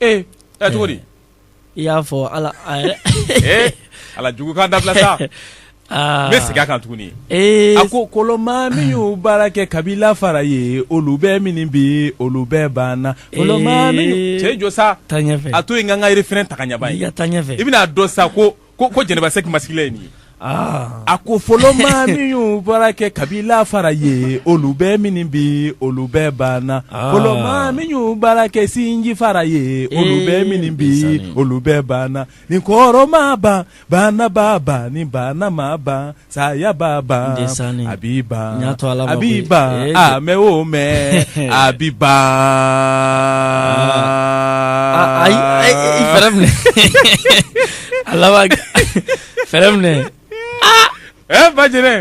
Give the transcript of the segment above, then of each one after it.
ee ɛ cogo di i y'a fɔ ala ee ala jugukan dabila sa n bɛ segin a kan tuguni a ko fɔlɔ maa min y'u baara kɛ kabila fara ye olu bɛɛ minni bi olu bɛɛ banna fɔlɔ maa min cɛ jɔ sa a to yen n ka n ka refrain ta ka ɲɛ bani i bɛna a dɔn sa ko ko jɛnɛba sɛki masigila ye nin ye ah. a ko fɔlɔ maa min y'u baara kɛ kabila fara ye olu bɛɛ minni bi olu bɛɛ banna ah. fɔlɔ maa min y'u baara kɛ sinji fara ye olu eh, bɛɛ minni bi olu bɛɛ banna ni kɔrɔ m'a ban bana b'a ban ni bana m'a ban Saya b'a ban a bi ban a bi ban mɛɛn o mɛɛn a bi ban ayi fɛrɛ minɛ a laban fɛrɛ minɛ ɛ ba jɛnɛ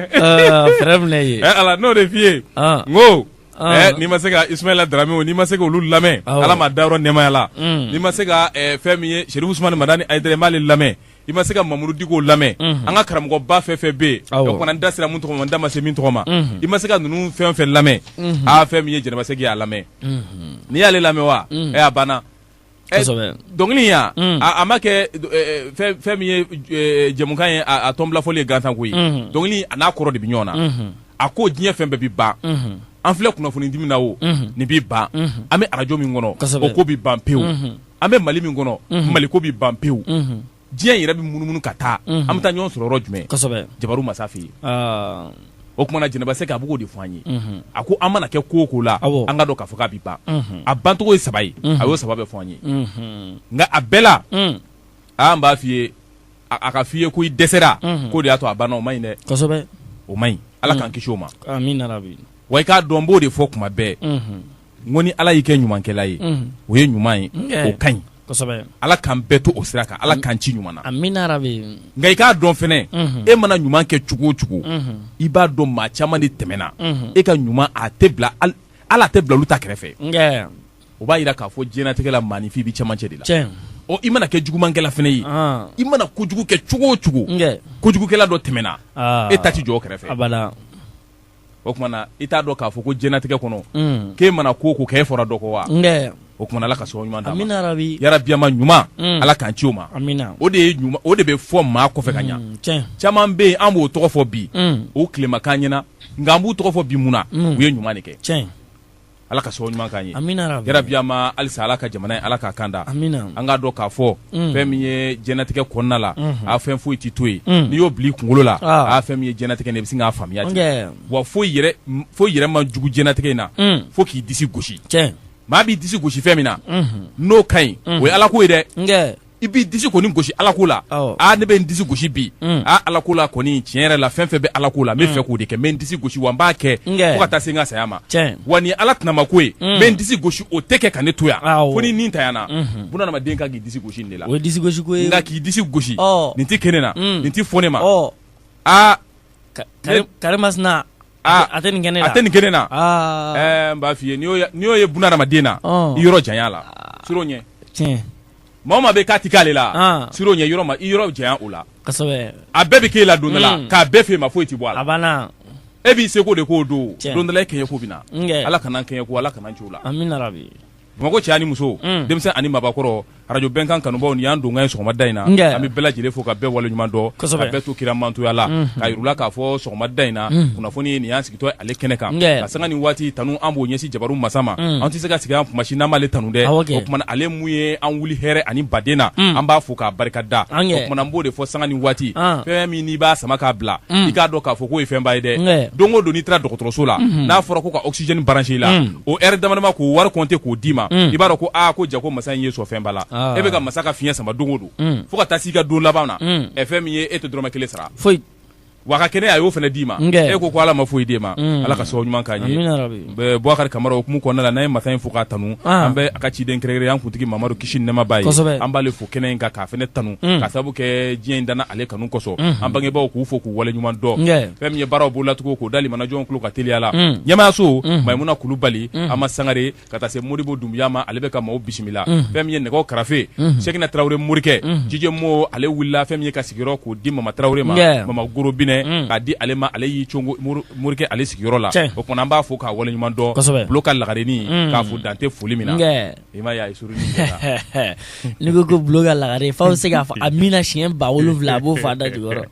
fɛrɛ minɛ ye ala n'o de f'i ye n ko Ah. Eh, n'i ma se ka Ismaila Darame n'i ma se ka olu lamɛn ah, Ala m'a dayɔrɔ nɛɛmaya la mm. n'i ma se ka eh, fɛn min ye Sɛrifu Usumani Madani Ayidara i m'ale lamɛn i ma se ka mamudu diko lamɛn an ka karamɔgɔba fɛn fɛn bɛ yen n da sera min tɔgɔ ma n da ma se min tɔgɔ ma i ma se ka ninnu fɛn fɛn lamɛn aa fɛn min ye jɛnɛba sɛki y'a lamɛn n'i y'ale lamɛn wa a banna dɔnkili ya a ma kɛ fɛn min ye jamukan ye a tɔn fɔli ye gansan ko ye a n'a kɔrɔ de bɛ ɲɔgɔn na a ko diɲɛ fɛn bɛɛ bɛ ban an filɛ kunnafoni di min na o nin bɛ ban an bɛ arajo min kɔnɔ o ko bɛ ban pewu an bɛ mali min kɔnɔ mali ko bɛ ban pewu diɲɛ yɛrɛ bɛ munumunu ka taa an bɛ taa ɲɔgɔn sɔrɔ yɔrɔ jumɛn jabaru masa fɛ yen o kumana jɛnɛba sɛki b'o ko de fɔ an ye a ko an mana kɛ ko o ko la an k'a dɔn k'a fɔ k'a bɛ ban a bancogo ye saba ye a y'o saba bɛɛ fɔ an ye nka a bɛɛ la an b'a f'i ye a k'a f'i ye ko i dɛsɛra k'o de y'a to a banna o man ɲi dɛ o man ɲi ala k'an kisi o ma wa i k'a dɔn n b'o de fɔ kuma bɛɛ n ko ni ala y'i kɛ ɲumankɛla ye o ye ɲuman ye o ka ɲi ala k'an bɛɛ to o sira kan ala k'an ci ɲuman na nka i k'a dɔn fɛnɛ e mana ɲuman kɛ cogo o cogo i b'a dɔn maa caman de tɛmɛna e ka ɲuman a tɛ bila ala tɛ bila olu ta kɛrɛfɛ o b'a yira k'a fɔ diɲɛnatigɛ la maaninfin bɛ camancɛ de la i mana kɛ jugumankɛla fɛnɛ ye i mana kojugu kɛ cogo o cogo kojugukɛla dɔ tɛmɛna e ta tɛ jɔ o kɛrɛfɛ o kumana i t'a dɔn k'a fɔ ko diɲɛnatigɛ kɔnɔ mm. k'e mana ko o ko kɛ e fɔra dɔ kɔ wa o kumana ala ka sɔn ɲuman d'an ma yara biyama ɲuman mm. ala k'an ci o ma o de o de bɛ fɔ maa kɔfɛ ka ɲa mm, caman bɛ yen an b'u tɔgɔ fɔ bi u tile ma k'an ɲɛna nka an b'u tɔgɔ fɔ bi mun na u ye ɲuman de kɛ ala ka sabu ɲuman k'an ye yarabi amina halisa ala ka jamana in ala k'a kanda an k'a dɔn k'a fɔ mm. fɛn min ye diɲɛnatigɛ kɔnɔna la mm-hmm. a fɛn foyi tɛ to yen mm. n'i y'o bil'i kunkolo la ah. a fɛn min ye diɲɛnatigɛ ne bɛ se k'a faamuya ten wa foyi yɛrɛ ma jugu diɲɛnatigɛ in na mm. fo k'i disi gosi maa b'i disi gosi fɛn min na mm-hmm. n'o ka ɲi o ye ala ko ye dɛ i b'i disi kɔni gosi ala ko la aa ne bɛ n disi gosi bi mm. aa ala ko la kɔni tiɲɛ yɛrɛ la fɛn fɛn bɛ ala ko la n bɛ mm. fɛ k'o de kɛ n bɛ n disi gosi wa n b'a kɛ fo ka taa se n ka saya ma wa ni ala tɛnama ko ye mm. n bɛ n disi gosi o tɛ kɛ ka ne to yan fo ni nin tayana mm-hmm. bunadamaden kan k'i disi gosi nin de la o ye disi gosi ko ye nka k'i disi gosi nin tɛ kɛ ne na nin tɛ fɔ ne ma aa karimasina Aa a tɛ nin kɛ ne a tɛ nin kɛ ne na n b'a f'i ye n'i y'o ye bunadamaden na i yɔrɔ janya a la siran o ɲɛ tiɲɛ maa o maa bɛ k'a tɛ k'ale la siran o ɲɛ yɔrɔ ma i yɔrɔ janya o la a bɛɛ bɛ k'e la don dɔ la k'a bɛɛ f'e ma foyi tɛ bɔ a la e b'i seko de k'o don don dɔ la e kɛɲɛko bɛ na ala kana n kɛɲɛko ala kana n ci o la Bamakɔ cɛ ani muso denmisɛn ani maabakɔrɔ radio bɛnkan kanubaw nin y'an donkan ye sɔgɔmada in na an bɛ bɛɛ lajɛlen fo ka bɛɛ waleɲuman dɔn ka bɛɛ to kira mantoya la k'a yir'u la k'a fɔ sɔgɔmada in na kunnafoni in nin y'an sigitɔ ale kɛnɛ kan ka sanga ni waati tanu an b'o ɲɛsin jabaru masa ma an tɛ se ka sigi an kumasi n'an m'ale tanu dɛ o tuma na ale min ye an wuli hɛrɛ ani baden na an b'a fo k'a barika da o tuma na n b'o de fɔ sanga ni waati fɛn min n'i b'a sama k'a bila i k'a dɔn k'a fɔ k'o ye fɛnba ye dɛ don o don n'i taara dɔgɔtɔrɔso la n'a fɔra ko ka oxygène brancher i la o heure damadama k'o wari compter k'o d'i ma, un, i b'a dɔn ko aa ko jako masa in ye sɔn fɛnba la, aa, e bɛ ka masa ka fiɲɛ sama don o don, un, fo ka taa s'i ka don laban na, un, ɛ fɛn min ye e tɛ dɔrɔmɛ kelen sara, foyi, wa a ka kɛnɛya a y'o fana d'i ma, n kɛ, e ko ko Ala ma foyi d'e ma, un, Ala ka sababu ɲuman k'an ye, amina yarabi, ɛ Bubakari Kamara o hukumu kɔnɔna la n'an ye masa in fo k'a tanu, an, an bɛ a ka ciden kɛrɛnkɛrɛn an kuntigi Mamadu kisi ni nɛɛma b'a ye, kosɛbɛ, an b'ale fo kɛnɛ in kan k'a fana tanu mm. ka sabu kɛ diɲɛ in danna ale kanu kosɔn mm-hmm. an bangebaaw k'u fo k'u waleɲuman dɔn fɛn min ye baaraw b'o latugu k'o da limanajɔnw tulo ka teliya la mm. ɲɛmaayaso mm-hmm. maimuna kulubali mm-hmm. ama sangare ka taa se modibo dumbuya ma ale bɛ ka maaw bisimila fɛn min ye nɛgɛw karafe sekina tarawele morikɛ jije mo ale wulila fɛn min y'a ka sigiyɔrɔ k'o di mama tarawele ma mama goro binɛ k'a di ale ma ale y'i congo morikɛ ale sigiyɔrɔ la o tuma an b'a fo k'a waleɲuman dɔn bulo ka lagarenin k'a fo dan tɛ foli min na I m'a ye a ye surununi kɛ tan n'i ko ko Bulo ka lagare f'aw bɛ se k'a fɔ amina siɲɛ ba wolonwula a b'o fɔ a da jukɔrɔ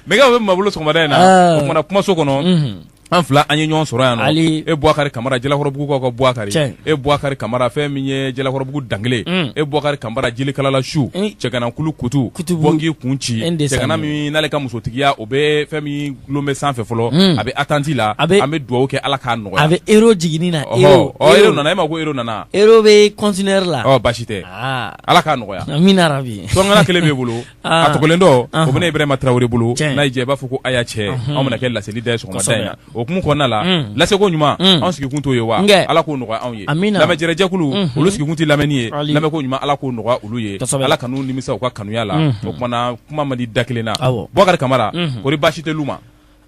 nɛgɛw bɛ maa bolo sɔgɔmada in na Ah. o tuma na kumaso kɔnɔ an fila an ye ɲɔgɔn sɔrɔ yan nɔ Ali- e Bubakari Kamara Jalakɔrɔbugukaw ka Bubakari Tiɲɛ. e Bubakari Kamara fɛn min ye Jalakɔrɔbugu dankelen Mm. e Bubakari Kamara jelikalala su Mm. cɛganankulu kutu Kutubu. bɔngi kun ci N de cɛgana sanni. min n'ale ka musotigiya o bɛ fɛn min tulon bɛ sanfɛ fɔlɔ a bɛ attente la an bɛ dugawu kɛ Ala k'a nɔgɔya a bɛ euro jigini na euro ɔ euro nana e m'a ye ko euro nana euro bɛ conteneur la ɔ basi tɛ aa Ala k'a nɔgɔya amina yarabi tɔngana kelen b'e bolo a tɔ kelen dɔ o bɛ ne Ibrahima Traore bolo n'a y'i diya i b'a fɔ ko Aya cɛ anw bɛna kɛ laseli da ye sɔgɔmada in na o hukumu kɔnɔna la laseko ɲuman anw sigikun t'o ye wa Ala k'o nɔgɔya anw ye amina lamɛjɛrɛ jɛkulu olu sigikun tɛ lamɛni ye lamɛko ɲuman Ala k'o nɔgɔya olu ye kosɛbɛ Ala kan'u nimisa u ka kanuya la o tuma na kuma man di da kelen na. Awɔ. Bubakari Kamara. Unhun. Kori baasi tɛ lu ma.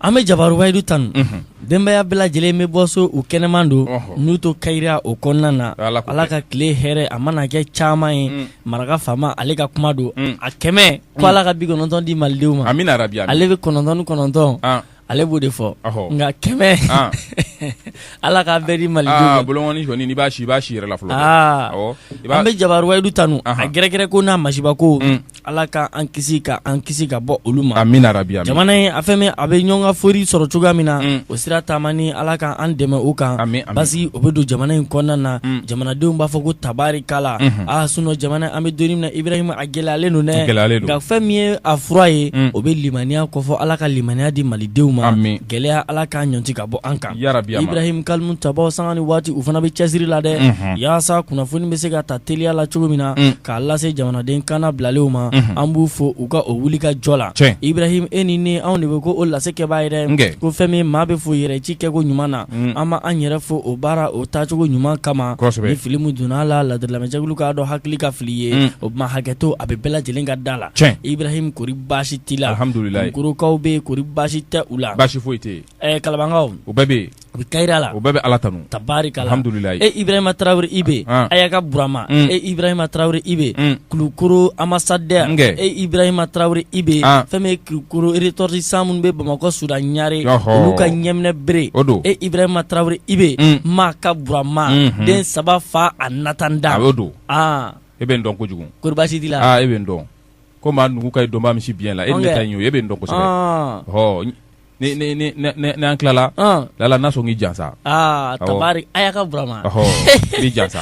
an bɛ jabaru wayidu tanu Unhun. denbaya bɛɛ lajɛlen bɛ bɔ so u kɛnɛman don Ɔhɔ. n'u to kayira o kɔnɔna na Ala ko ala ka tile hɛrɛ a mana kɛ caman ye Mm. maraka faama ale ka kuma don Mm. a kɛmɛ ko ala ka bi kɔnɔntɔn di malidenw ma Amina rabi Amina. ale bi kɔnɔntɔn ni kɔnɔntɔn Ah. Ale b'o de fɔ nka kɛmɛ ala k'a bɛɛ di malidenw b'a si b'a si yɛrɛ la an bɛ jabaru wayidu tanu a gɛrɛgɛrɛ ko n'a masiba ko ala ka an kisi ka an kisi ka bɔ olu ma a jamana in a fɛn min a bɛ ɲɔn ka fori sɔrɔ cogoya min na o sira taama ni ala ka an dɛmɛ o kan parce que o bɛ don jamana in kɔnɔna na jamanadenw b'a fɔ ko tabarikala sinon jamana an bɛ don min na i Gɛlɛyalen don dɛ, gɛlɛyalen don, nka fɛn min ye a fura ye, un, o bɛ limaniya kofɔ Ala ka limaniya di Malidenw ma, amin, gɛlɛya Ala k'a ɲɔnti ka bɔ an kan, yarabi, Ibrahim kalimutabaaw sanga ni waati u fana bɛ cɛsiri la dɛ, unhun, yaasa kunnafoni bɛ se ka ta teliya la cogo min na, un, k'a lase jamanaden kannabilalenw ma, unhun, an b'u fo u ka o wuli ka jɔ la, tiɲɛ, Ibrahim e ni ne anw de bɛ ko o lase kɛbaa ye dɛ, n kɛ, ko fɛn min maa bɛ fo yɛrɛ ci kɛko ɲuman na an ma an yɛrɛ fo o baara o taacogo ɲuman kama ni fili min donna la ladiri lamɛnjɛkulu k'a dɔn hakili ka fili ye o tuma hakɛto a bɛ bɛɛ lajɛlen ka da la Ibrahima kori baasi t'i la Kulukorokaw bɛ kori baasi tɛ u la basi foyi tɛ Kalabankaw u bɛɛ bɛ yen u bɛ kayira la u bɛɛ bɛ ala tanu tabarikala e Ibrahima Tarawele Ibe Aya ka Burama e Ibrahima Tarawele Ibe Kulukoro ambassadeur e Ibrahima Tarawele Ibe fɛn Kulukoro ressortissant minnu bɛ bamakɔ Sudan Ɲare olu ka ɲɛminɛbere o don e Ibrahima Tarawele Ibe Maa ka Burama den saba fa a nata da o don aa e bɛ n dɔn kojugu kori baasi t'i la e bɛ n dɔn ko maa numu ka ye dɔn misi biɲɛ la e ne ta ye e bɛ n dɔn kosɛbɛ n'an tilala laala n na sɔn k'i jansa tabari Aya ka Burama i jansa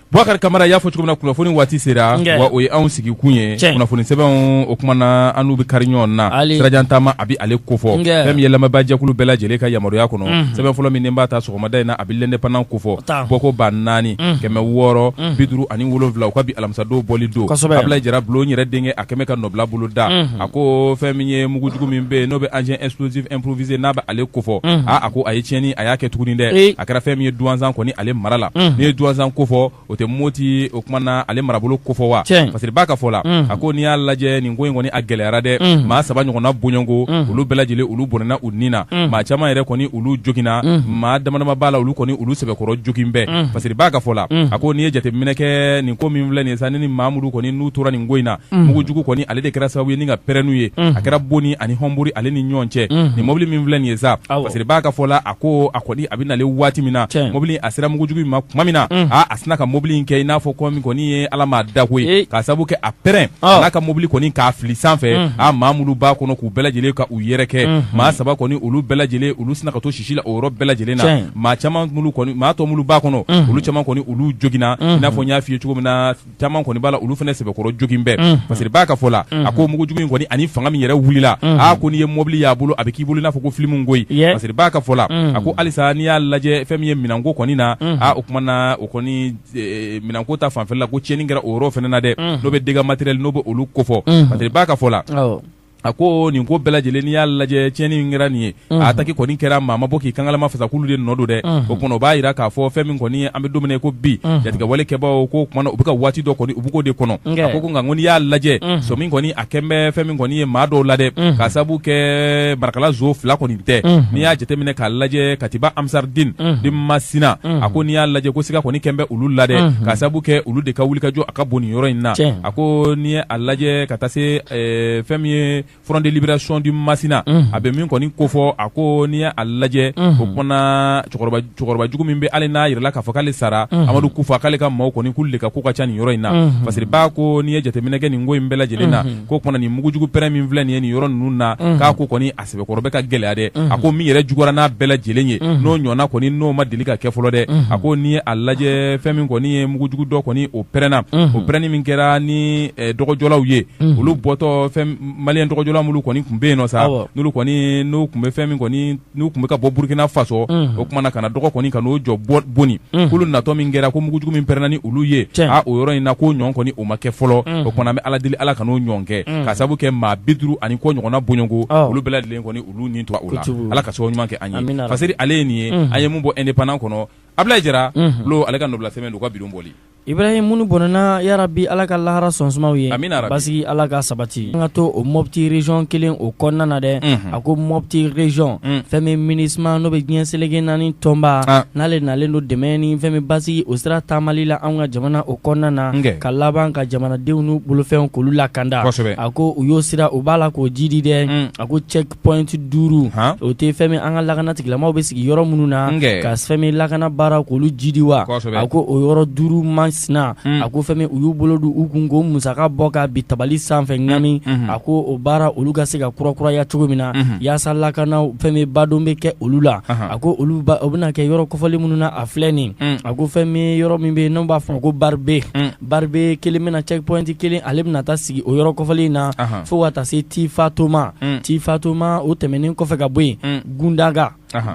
Bubakari Kamara y'a fɔ cogo min na kunnafoni waati sera wa o ye anw sigikun ye kunnafoni sɛbɛnw o tuma na an n'u bɛ kari ɲɔgɔn na sirajan taama a bɛ ale kofɔ fɛn min ye lamɛnbaajɛkulu bɛɛ lajɛlen ka yamaruya kɔnɔ sɛbɛn fɔlɔ min b'a ta sɔgɔmada in na a bɛ L'Indépendant kofɔ bɔko ba naani kɛmɛ wɔɔrɔ bi duuru ani wolonwula u ka bi alamisadon bɔli don Ablaye Jara bulon yɛrɛ denkɛ a kɛmɛ ka nɔbila bolo da a ko fɛn min ye mugujugu min bɛ yen n'o bɛ engin explosif improvisé n'a bɛ ale kofɔ a ko a ye tiɲɛni a y'a kɛ tuguni dɛ a kɛra fɛn min ye duwanzan kɔni ale mara la n'i ye duwanzan kofɔ o tɛ moti o kumana ale marabolo kofɔ wa parce que b'a ka fɔ la a ko n'i y'a lajɛ nin ko in kɔni a gɛlɛyara dɛ maa saba ɲɔgɔnna bɔɲɔgɔnko olu bɛɛ lajɛlen olu bɔnɛna u ni na maa caman yɛrɛ kɔni olu joginna maa damadama b'a la olu kɔni olu sɛbɛkɔrɔ jogin bɛɛ parce que b'a ka fɔ la a ko n'i ye jateminɛ kɛ nin ko min filɛ nin ye sa ni maa minnu kɔni n'u tora nin ko in na mugujugu kɔni ale de kɛra sababu ye ni ka pɛrɛn n'u ye a kɛra boni ani hɔnbori ale ni ɲɔgɔn cɛ nin mɔbili min filɛ nin ye sa parce que b'a ka fɔ la ko a kɔni a bɛ na waati min na mobili a sera mugujugu ma tuma min na aaa a sina ka mobili in kɛ i n'a fɔ ko min kɔni ye ala maa dako ye k'a sababu kɛ a pɛrɛnna ka mobili kɔni k'a fili sanfɛ a maa minnu b'a kɔnɔ k'u bɛɛ lajɛlen ka u yɛrɛkɛ maa saba kɔni olu bɛɛ lajɛlen olu sina ka to sisi la o yɔrɔ bɛɛ lajɛlen na maa caman minnu kɔni maa tɔ minnu b'a kɔnɔ olu caman kɔni olu joginna i n'a fɔ n y'a f'i ye cogo min na caman kɔni b'a la olu fana sɛbɛkɔrɔ jogin bɛɛ unhun, parce que b'a ka fɔ la unhun, a ko mugujugu in kɔni ani fanga min yɛrɛ wulila unhun, aa ko n'i ye mɔbili y'a bolo a bɛ k'i bolo i n'a fɔ ko filimu koyi yeah. parce que b'a ka fɔ la unhun, a ko halisa n'i y'a lajɛ fɛn min ye minɛnko kɔni na unhun, aa o kumana o kɔni e, minɛnko ta fanfɛla la ko tiɲɛni kɛra o yɔrɔ fana na dɛ unhun, n'o bɛ dégâts matériels n'o bɛ olu kofɔ unhun, parce que b'a ka fɔ la awɔ. a ko nin ko bɛɛ lajɛlen n'i y'a lajɛ tiɲɛni min kɛra nin ye a ataki kɔni kɛra maa ma bɔ k'i kangalama fasa k'olu de nɔ don dɛ o tuma o b'a jira k'a fɔ fɛn min kɔni an bɛ don min na i ko bi jatigɛwale kɛbaaw k'o kumana u bɛ ka waati dɔ kɔni u bɛ k'o de kɔnɔ a ko ko nka ko n'i y'a lajɛ sɔmi kɔni a kɛn bɛ fɛn min kɔni ye maa dɔw la dɛ k'a sababu kɛ marakala zo fila kɔni tɛ n'i y'a jateminɛ k'a lajɛ Katiba Ansardine de Masina a ko n'i y'a lajɛ ko siga kɔni kɛn bɛ olu la dɛ k'a sababu kɛ olu de ka wulikajɔ a ka bon nin yɔrɔ in na a ko n'i ye a lajɛ ka taa se ɛɛ fɛn min ye front de libération du Masina unhun, a bɛ min kɔni kofɔ, a ko n'i y'a lajɛ, unhun, o kumana cɛkɔrɔba jugu min bɛ hali n'a yirala k'a fɔ k'ale sara, unhun, Amadu Kufa k'ale ka maaw kɔni k'olu de ka ko ka ca nin yɔrɔ in na, unhun, parce que ba ko n'i ye jateminɛ kɛ nin ko in bɛɛ lajɛlen na, unhun, k'o kumana nin mugujugu pɛrɛn min filɛ nin ye nin yɔrɔ ninnu na, unhun, k'a ko kɔni a sɛbɛkɔrɔ bɛ ka gɛlɛya dɛ a ko min yɛrɛ juguyara n'a bɛɛ lajɛlen ye n'o ɲɔgɔnna kɔni n'o ma deli ka kɛ fɔlɔ dɛ a ko n'i ye a lajɛ fɛn min kɔni ye mugujugu dɔ kɔni o pɛrɛnna o pɛrɛnni min kɛra ni eh, dɔgɔjɔlaw ye olu bɔtɔ fɛn maliyɛn dɔgɔjɔla minnu kɔni tun bɛ yen nɔ sa Awɔ. n'olu kɔni n'u tun bɛ fɛn min kɔni n'u tun bɛ ka bɔ burukina faso o kumana ka na dɔgɔ kɔni ka n'o jɔ bɔ- boni k'olu natɔ min kɛra ko mugujugu min pɛrɛnna ni olu ye Tiɲɛ. a o yɔrɔ in na k'o ɲɔgɔn kɔni o ma kɛ fɔlɔ o kumana an bɛ ala deli ala kan'o ɲɔgɔn kɛ k'a sabu kɛ maa bi duuru ani kɔ ɲɔgɔnna bɔɲɔgɔnko olu bɛɛ lajɛlen kɔni olu ni tora o la ala ka so ɲuman kɛ an ye parce que ale ye nin ye an ye mun bɔ indépendant kɔnɔ abilayi jara lo ale ka nɔbila sɛbɛn don ka bi don bɔli ibrahim minnu bɔnɛna yarabi ala ka lahara so suma u ye basigi ala ka sabati an ka to o mopti région kelen o kɔnɔna na dɛ ko mɔti region fɛn min MINUSMA n'o bɛ diɲɛ seleke naani tɔnba n'ale nalen don dɛmɛ ni fɛn min basigi o sira taamali la an ka jamana o kɔnɔna na ka laban ka jamanadenw n'u bolofɛnw k'olu lakanda a ko u y'o sira u b'a la k'o jidi dɛ a ko checkpoint duuru o tɛ fɛn min an ka lakana tigilamaw bɛ sigi yɔrɔ minnu na ka fɛn min lakana baara k'olu jidi wa a ko o yɔrɔ duuru man sina a ko fɛn min u y'u bolo don u kun ko musaka bɔ ka bi tabali sanfɛ ŋami a ko o baara olu ka se ka kurakuraya cogo min na yaasa lakana fɛn min badon bɛ kɛ olu la a ko olu o bɛna kɛ yɔrɔ kɔfɔlen minnu na a filɛ nin a ko fɛn min yɔrɔ min bɛ n'u b'a fɔ ko baribe baribe kelen bɛna checkpoint kelen ale bɛna taa sigi o yɔrɔ kɔfɔlen in na fo ka taa se tifatoma tifatoma o tɛmɛnen kɔfɛ ka bɔ yen gunda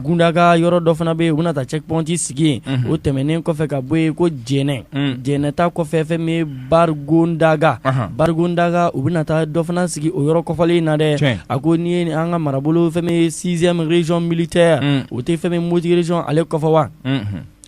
gundaga yɔrɔ dɔ fana bɛ yen u bɛna taa checkpoint sigi o tɛmɛnen kɔfɛ ka bɔ yen ko jɛnɛ jɛnɛ ta kɔfɛ fɛn min bargondaga bargondaga u bɛna taa dɔ fana sigi o yɔrɔ kɔfɔlen in na dɛ a ko n'i ye an ka marabolo fɛn min sixième region militaire o tɛ fɛn min moti region ale kɔfɔ wa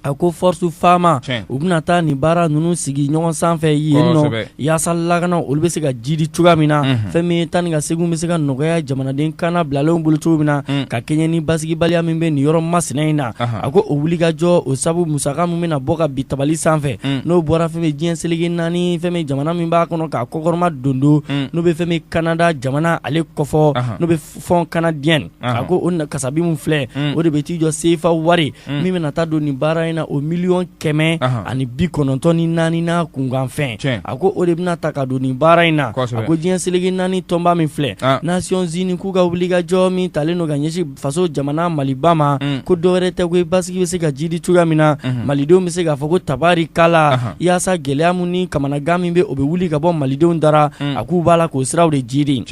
A ko force FAMa u bɛna taa nin baara ninnu sigi ɲɔgɔn sanfɛ yen nɔ yaasa lakana olu bɛ se ka jidi cogoya min na fɛn min taa ni ka seginw bɛ se ka nɔgɔya jamanaden kannabilalenw bolo cogo min na ka kɛɲɛ ni basigibaliya min bɛ nin yɔrɔ masina in na a ko o wuli ka jɔ o sabu musaka min bɛna bɔ ka bi tabali sanfɛ n'o bɔra fɛn min diɲɛ seleke naani fɛn min jamana min b'a kɔnɔ k'a kɔkɔrɔma dondon n'o bɛ fɛn min kanada jamana ale kɔfɔ fonds canadien a ko o kasabi min filɛ mm. o de bɛ t'i jɔ sefa wari mm. min bɛna taa don nin baara in na o miliyɔn kɛmɛ ani bi kɔnɔntɔn ni naani n'a kunkanfɛn a ko o de bɛna ta ka don nin baara in na a ko diɲɛ seleke naani tɔnba min filɛ ah. nasiyɔnzini k'u ka wuli ka jɔ min talen don ka ɲɛsin faso jamana maliba ma mm. ko dɔwɛrɛ tɛ ko basigi bɛ se ka jidi cogoya min na mm-hmm. malidenw bɛ se k'a fɔ ko tabarikala yaasa gɛlɛya min ni kamanagan min bɛ o bɛ wuli ka bɔ malidenw dara a k'u b'a la k'o siraw de jidi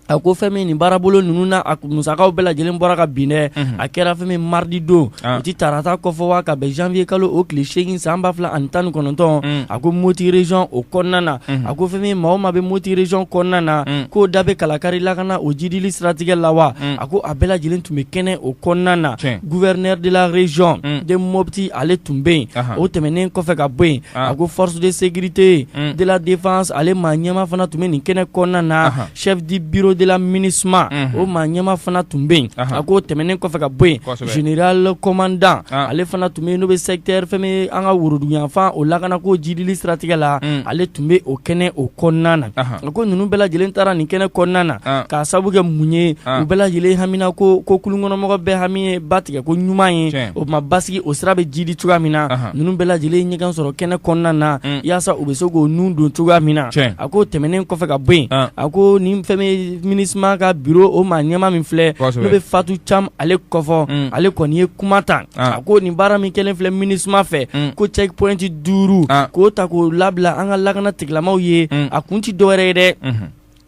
a ko fɛn min nin baarabolo ninnu na a musakaw bɛɛ lajɛlen bɔra ka bin dɛ mhm. a kɛra fɛn min maridi don ah. o ti tarata kɔfɔ wa ka bɛn janvier kalo o tile seegin san ba fila ani tan ni kɔnɔntɔn mm. a ko moti region o kɔnɔna na mhm. a ko fɛn min maa o maa bɛ moti region kɔnɔna na mm. k'o da bɛ kalakari lakana o jidili siratigɛ la wa mm. a ko a bɛɛ lajɛlen tun bɛ kɛnɛ o kɔnɔna na gouverneur de la region de mopti ale tun bɛ yen o tɛmɛnen kɔfɛ ka bɔ yen a ko force de sécurité de la défense ale maa ɲɛma fana tun bɛ nin kɛnɛ kɔnɔna na chef du bureau de la MINUSMA o maa ɲɛma fana tun bɛ yen a ko tɛmɛnen kɔfɛ ka bɔ yen général commandant ale fana tun bɛ yen n'o bɛ secteur fɛn min an ka woroduguyanfan o lakana ko jidili siratigɛ la ale tun bɛ o kɛnɛ o kɔnɔna na a ko ninnu bɛɛ lajɛlen taara nin kɛnɛ kɔnɔna na k'a sabu kɛ mun ye u bɛɛ lajɛlen hamina ko ko kulunkɔnɔmɔgɔ bɛɛ hami ye ba tigɛ ko ɲuman ye o tuma basigi o sira bɛ jidi cogoya min na Ninnu bɛɛ lajɛlen ɲɔgɔn sɔrɔ kɛnɛ kɔnɔna na yaasa u bɛ se k'o nun don cogoya min na a ko tɛmɛnen kɔfɛ ka bɔ yen a ko nin fɛn min MINUSMA ka bureau o maa ɲɛma min filɛ n'o bɛ Fatu Cam ale ko fɔ ale kɔni ye kuma ta a ko nin baara min kɛlen filɛ MINUSMA fɛ ko checkpoint duuru k'o ta k'o labila an ka lakana tigilamaw ye a kun tɛ dɔwɛrɛ ye dɛ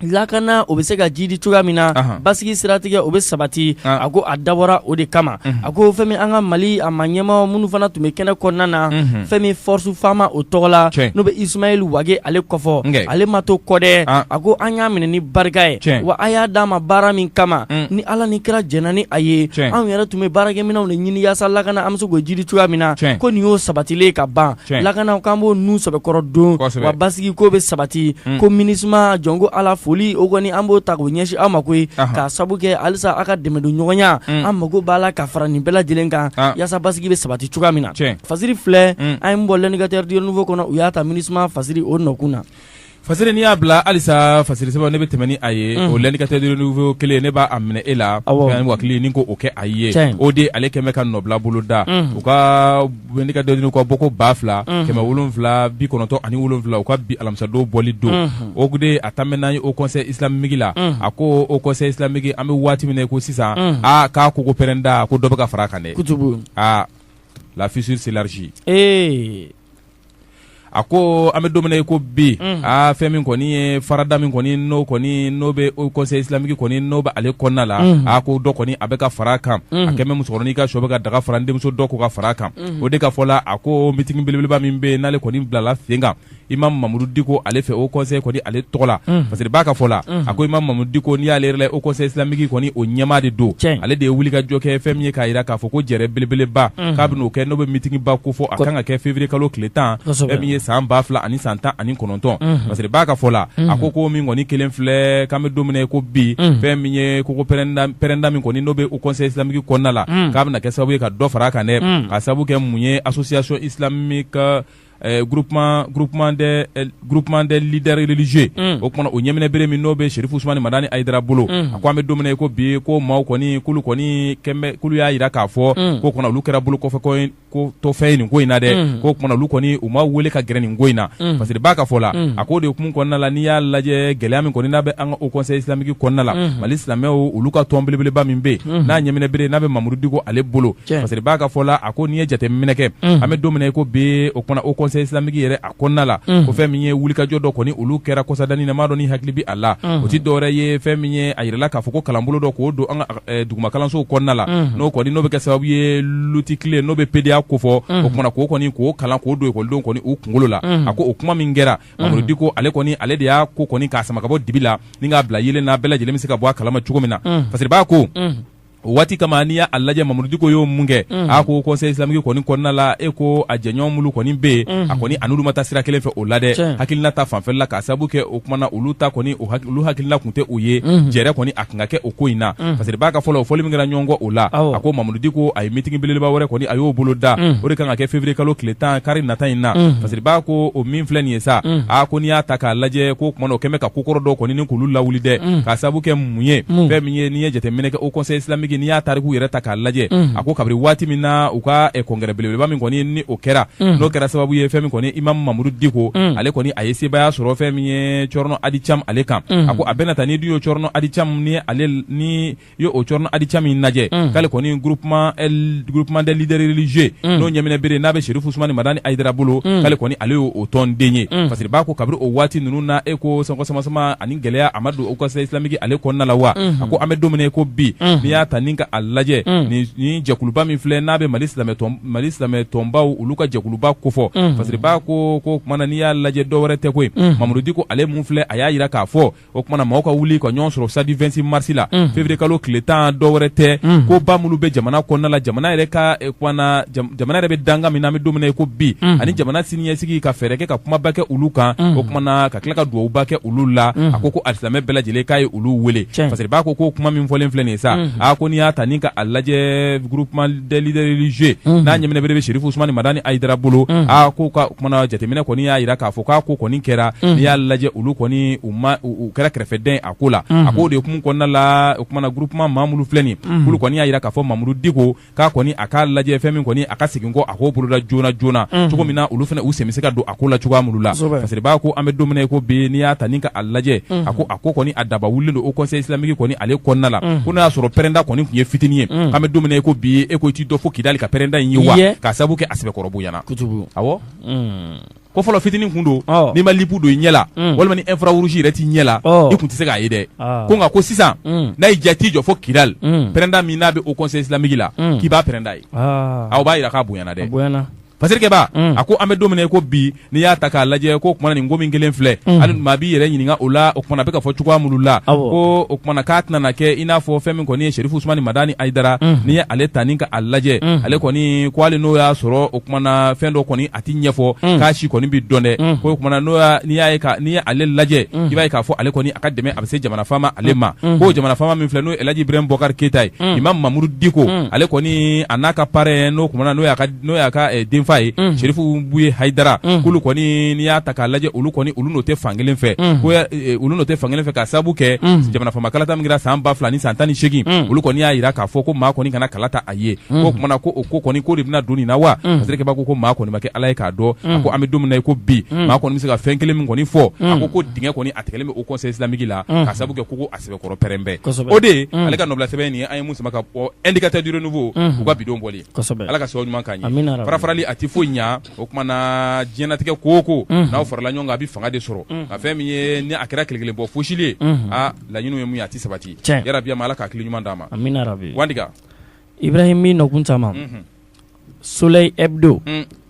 lakana o bɛ se ka jidi cogoya min na basigi siratigɛ o bɛ sabati a ko a dabɔra o de kama a ko fɛn min an ka Mali a maa ɲɛma minnu fana tun bɛ kɛnɛ kɔnɔna na fɛn min force FAMa o tɔgɔ la n'o bɛ Ismaël Wage ale ko fɔ ale ma to kɔ dɛ a ko an y'a minɛ ni barika ye wa a y'a d'an ma baara min kama ni ala ni kira jɛnna ni a ye anw yɛrɛ tun bɛ baarakɛminɛnw de ɲini yaasa lakana an bɛ se k'o jidi cogoya min na ko nin y'o sabatilen ka ban lakana k'an b'o nun sɛbɛkɔrɔ don wa basigi k'o bɛ sabati ko MINUSMA jɔnko ala foli o kɔni an b'o ta k'o ɲɛsin aw ma koyi k'a sabu kɛ halisa aw ka dɛmɛ don ɲɔgɔnya an mako b'a la ka fara nin bɛɛ lajɛlen kan yaasa basigi bɛ sabati cogoya min na fasiri filɛ an ye min bɔ L'Indicateur du Renouveau kɔnɔ u y'a ta MINUSMA fasiri o nɔkun na fasiri n'i y'a bila halisa fasiri sɛbɛn ne bɛ tɛmɛ ni a ye o L'Indicateur du Renouveau kelen ne b'a minɛ e la wakili ni ko o kɛ a ye o de ale kɛmɛ ka nɔbila bolo da u ka L'Indicateur ka bɔko ba fila kɛmɛ wolonfila bi kɔnɔntɔn ani wolonfila u ka bi alamisadon bɔli don o de a taa n'an ye Haut Conseil islamique la a ko Haut Conseil islamique an bɛ waati min na ko sisan a ka koko pɛrɛnda ko dɔ bɛ ka fara a kan dɛ aaa la fissure s'élargit ee a ko an bɛ don min na i ko bi mm. aa fɛn min kɔni ye farada min kɔni n'o kɔni n'o bɛ Haut Conseil islamique kɔni n'o bɛ ale kɔnɔna la mm. a ko dɔ kɔni a bɛ ka fara a kan mm. a kɛmɛ musokɔrɔnin ka sɔ bɛ ka daga fara n denmuso dɔ ko ka fara a kan o de ka fɔ la a ko meeting belebeleba min bɛ n'ale kɔni bilala sen kan Imam Mamudu Diko ale fɛ Haut Conseil kɔni ale tɔgɔ la parce que b'a ka fɔ la a ko Imam Mamudu Diko n'i y'ale yɛrɛ la Haut Conseil islamique kɔni o ɲɛmaa de don ale de ye wuli ka jɔ kɛ fɛn min ye k'a jira k'a fɔ o ko jɛrɛ belebeleba k'a bɛn'o kɛ n'o bɛ meeting ba ko fɔ a kan ka kɛ février kalo tile tan fɛn min ye san ba fila ani san tan ani kɔnɔntɔn parce que b'a ka fɔ la a ko ko min kɔni kɛlen filɛ k'an bɛ don min na i ko bi fɛn min ye koko pɛrɛnda min kɔni n'o bɛ Haut Conseil islamique kɔnɔna la k'a bɛna kɛ sababu ye ka dɔ fara a kan dɛ k'a sababu kɛ mun ye association islamique Eh, groupement groupement des eh, groupement des leaders religieux mm. o kumana o ɲɛminɛ bere min n'o bɛ Sherifu Usmani Madani Ayidara bolo mm. a ko an bɛ don min na i ko bi ko maaw kɔni k'olu kɔni kɛnbɛ k'olu y'a jira k'a fɔ mm. k'o kumana olu kɛra bolo kɔfɛfɛn ye nin ko in na dɛ mm. k'o kumana olu kɔni u ma wele ka gɛrɛ nin ko in na mm. parce que b'a ka fɔ la mm. a ko o de hukumu kɔnɔna la n'i y'a lajɛ gɛlɛya min kɔni n'a bɛ an ka Haut Conseil islamique kɔnɔna la mm. Mali silamɛw olu ka tɔn belebeleba min bɛ yen mm. n'a ɲɛminɛ bere n'a bɛ Mamuru Diko ale bolo Cɛn. fasiribaa ka fɔ la a ko n'i ye jateminɛ kɛ an bɛ don min na i ko bi o kumana Haut conseil islamique yɛrɛ a kɔnɔna la ko fɛn min ye wulikajɔ dɔ kɔni olu kɛra kɔsadani na n m'a dɔn n'i hakili bɛ a la o tɛ dɔwɛrɛ ye fɛn min ye a jirala k'a fɔ ko kalanbolo dɔ k'o don an ka eh, dugumakalansow kɔnɔna la n'o kɔni n'o bɛ kɛ sababu ye luti tile n'o bɛ pedeya kofɔ o kumana k'o kɔni k'o kalan k'o don ekɔlidenw kɔni u kunkolo la a ko o kuma min kɛra Mamudu Diko ale kɔni ale de y'a ko kɔni k'a sama ka bɔ dibi la ni k'a bila yeelen na bɛɛ lajɛlen bɛ se ka bɔ a kalama cogo min na fasiribaa ko o waati kama n'i y'a lajɛ Mamudu Diko y'o mun kɛ a ko conseil islamique kɔni kɔnɔna la e ko a jɛɲɔgɔn minnu kɔni bɛ yen a kɔni a n'olu ma taa sira kelen fɛ o la dɛ hakilina ta fanfɛla la k'a sababu kɛ o kumana olu ta kɔni olu hakilina tun tɛ o ye jɛrɛ kɔni a tun ka kɛ o ko in na fasiribaa ka fɔ la o fɔli min kɛra ɲɔgɔn kɔ o la a ko Mamudu Diko a ye meeting belebeleba wɛrɛ kɔni a y'o boloda o de kan ka kɛ février kalo tile tan kari nata in na fasiribaa ko o min filɛ nin ye sa a ko n'i y'a ta k'a lajɛ k'o kumana o kɛlen bɛ ka ko kɔrɔ dɔ kɔni ni k'olu lawuli dɛ k'a sababu kɛ mun ye fɛn min ye n'i ye jateminɛ kɛ Haut conseil islamique n'i y'a tariku yɛrɛ ta k'a lajɛ a ko kabiri waati min na u ka congrès belebeleba min kɔni ni o kɛra n'o kɛra sababu ye fɛn min kɔni Imamu Mamudu Diko ale kɔni a ye sebaaya sɔrɔ fɛn min ye Cɛrinɔ Adi Camu ale kan a ko a bɛna taa n'i dun ye Cɛrinɔ Adi Camu ni ale n'i y'o Cɛrinɔ Adi Camu in lajɛ k'ale kɔni groupement des leaders religieux n'o ɲɛminɛ bere n'a bɛ Serifu Usumani Madani Ayidara bolo k'ale kɔni ale y'o tɔnden ye fasiribaa ko kabiri o waati ninnu na e ko san sama gɛlɛya a ma don Haut conseil islamique ale kɔnɔna la wa a ko an bɛ don min na ko bi n'i y'a ta ni ka a lajɛ ni jɛkuluba min filɛ n'a bɛ mali mali silamɛ tɔnbaw olu ka jɛkuluba kofɔ fasiribaa ko o kumana n'i y'a lajɛ dɔwɛrɛ tɛ koyi Mamudu Diko ale min filɛ a y'a jira k'a fɔ o kumana mɔgɔw ka wuli ka ɲɔgɔn sɔrɔ stade vingt-six mars la février kalo tile tan dɔwɛrɛ tɛ ko ba minnu bɛ jamana kɔnɔna la jamana yɛrɛ ka jamana yɛrɛ bɛ danga min na an bɛ don min na ko bi ani jamana siniɲɛsigi ka fɛɛrɛ kɛ ka kumaba kɛ olu kan o kumana ka tila ka dugawuba kɛ olu la a ko ko alisilamɛ bɛɛ lajɛlen k'a ye olu wele fasiribaa ko ko kuma min fɔlen filɛ nin ye sa a ko n'i y'a ta ni ka a lajɛ groupement des leaders religieux n'a ɲɛminɛ bere bɛ Serifu Usumani Madani Ayidara bolo a ko o kumana jateminɛ kɔni y'a jira k'a fɔ k'a ko kɔni kɛra n'i y'a lajɛ olu kɔni u ma u kɛra kɛrɛfɛden a ko la a ko o de hukumu kɔnɔna la o kumana groupement maa minnu filɛ nin ye olu kɔni y'a jira k'a fɔ Mamudu Diko k'a kɔni a k'a lajɛ fɛn min kɔni a ka segin kɔ a k'o boloda joona joona mhm. cogo min na olu fana u sen bɛ se ka don a ko la cogoya minnu la fasiribaa ko an bɛ don min na ko bi n'i y'a ta ni ka a lajɛ mhm. a ko a ko kɔni a daba wulilen don Haut conseil islamique kɔni ale kɔnɔna la mhm. ko n'a y'a sɔrɔ pɛrɛnda kɔni tun ye fitinin ye k'an bɛ don min na ko bi e ko i t'i dɔ fo kidali ka pɛrɛnda in ye wa k'a sabu kɛ a sɛbɛkɔrɔ bonyana awɔ ko fɔlɔ fitinin kun don n'i ma lipu don i ɲɛ la mm. walima ni infrarouge yɛrɛ t'i ɲɛ la i kun tɛ se k'a ye dɛ ah. ko nka ko sisan mm. n'a y'i diya t'i jɔ fo kidali mm. pɛrɛnda min n'a bɛ o conseil islamique la k'i b'a pɛrɛnda ye ah. aw b'a yira k'a bonyana dɛ pasirikɛba a ko an bɛ don min ko bi n'i y'a ta k'a lajɛ ko kumana nin ko min kɛlen filɛ hali maa b'i yɛrɛ ɲininka o la o kumana a bɛ ka fɔ cogoya minnu la ko o kumana k'a tɛna na kɛ i n'a fɔ fɛn min kɔni ye serifu sumani madani ayidara n'i ye ale ta ni ka a lajɛ ale kɔni ko hali n'o y'a sɔrɔ o kumana fɛn dɔ kɔni a tɛ ɲɛfɔ mm. k'a si kɔni bɛ dɔn dɛ mm. ko o kumana n'i y'a ye n'i ye ale lajɛ mm. i b'a ye k'a fɔ ale kɔni a ka dɛmɛ a bɛ se jamana faama ale ma ko jamana faama min filɛ n'o ye Elhaji Ibrahim Boubacar Keita ye Imam Mamudu Diko ale kɔni a n'a ka parrain n'o kumana n'o y'a ka n'o y'a ka eh, denfa ye Serifu Buye Hayidara k'olu kɔni n'i y'a ta k'a lajɛ olu kɔni olu n'o tɛ fankelen fɛ ko eh, olu n'o tɛ fankelen fɛ k'a sababu kɛ jamana faama kalata min kɛra san ba fila ni san tan ni seegin olu kɔni y'a jira k'a fɔ ko maa kɔni kana kala ta a ye o tumana ko o ko kɔni ko de bɛna don nin na wa pasirikɛba a ko maa kɔni ma kɛ ala ye k'a dɔn a ko an bɛ don min na ko bi maa kɔni bɛ se ka fɛn kelen min kɔni fɔ a ko ko dingɛ kɔni a tigɛlen bɛ o conseil islamique la k'a sababu kɛ ko a sɛbɛkɔrɔ pɛrɛnnen o de ale ka nɔbila sɛbɛn nin an ye mun sama ka bɔ indicateur du renouveau u ka bidon bɔli ala ka sabu ɲuman k'an ye farafarali a tɛ foyi ɲɛ o kumana diɲɛnatigɛ ko o ko n'aw farala ɲɔgɔn kan a bɛ fanga de sɔrɔ a fɛn min ye ni a kɛra kelen kelen bɔ fosili ye laɲini ye mun ye a tɛ sabati yarabi ala ka hakili ɲuman d'a ma Ibrahim min nɔkun caman Soleil Hebdo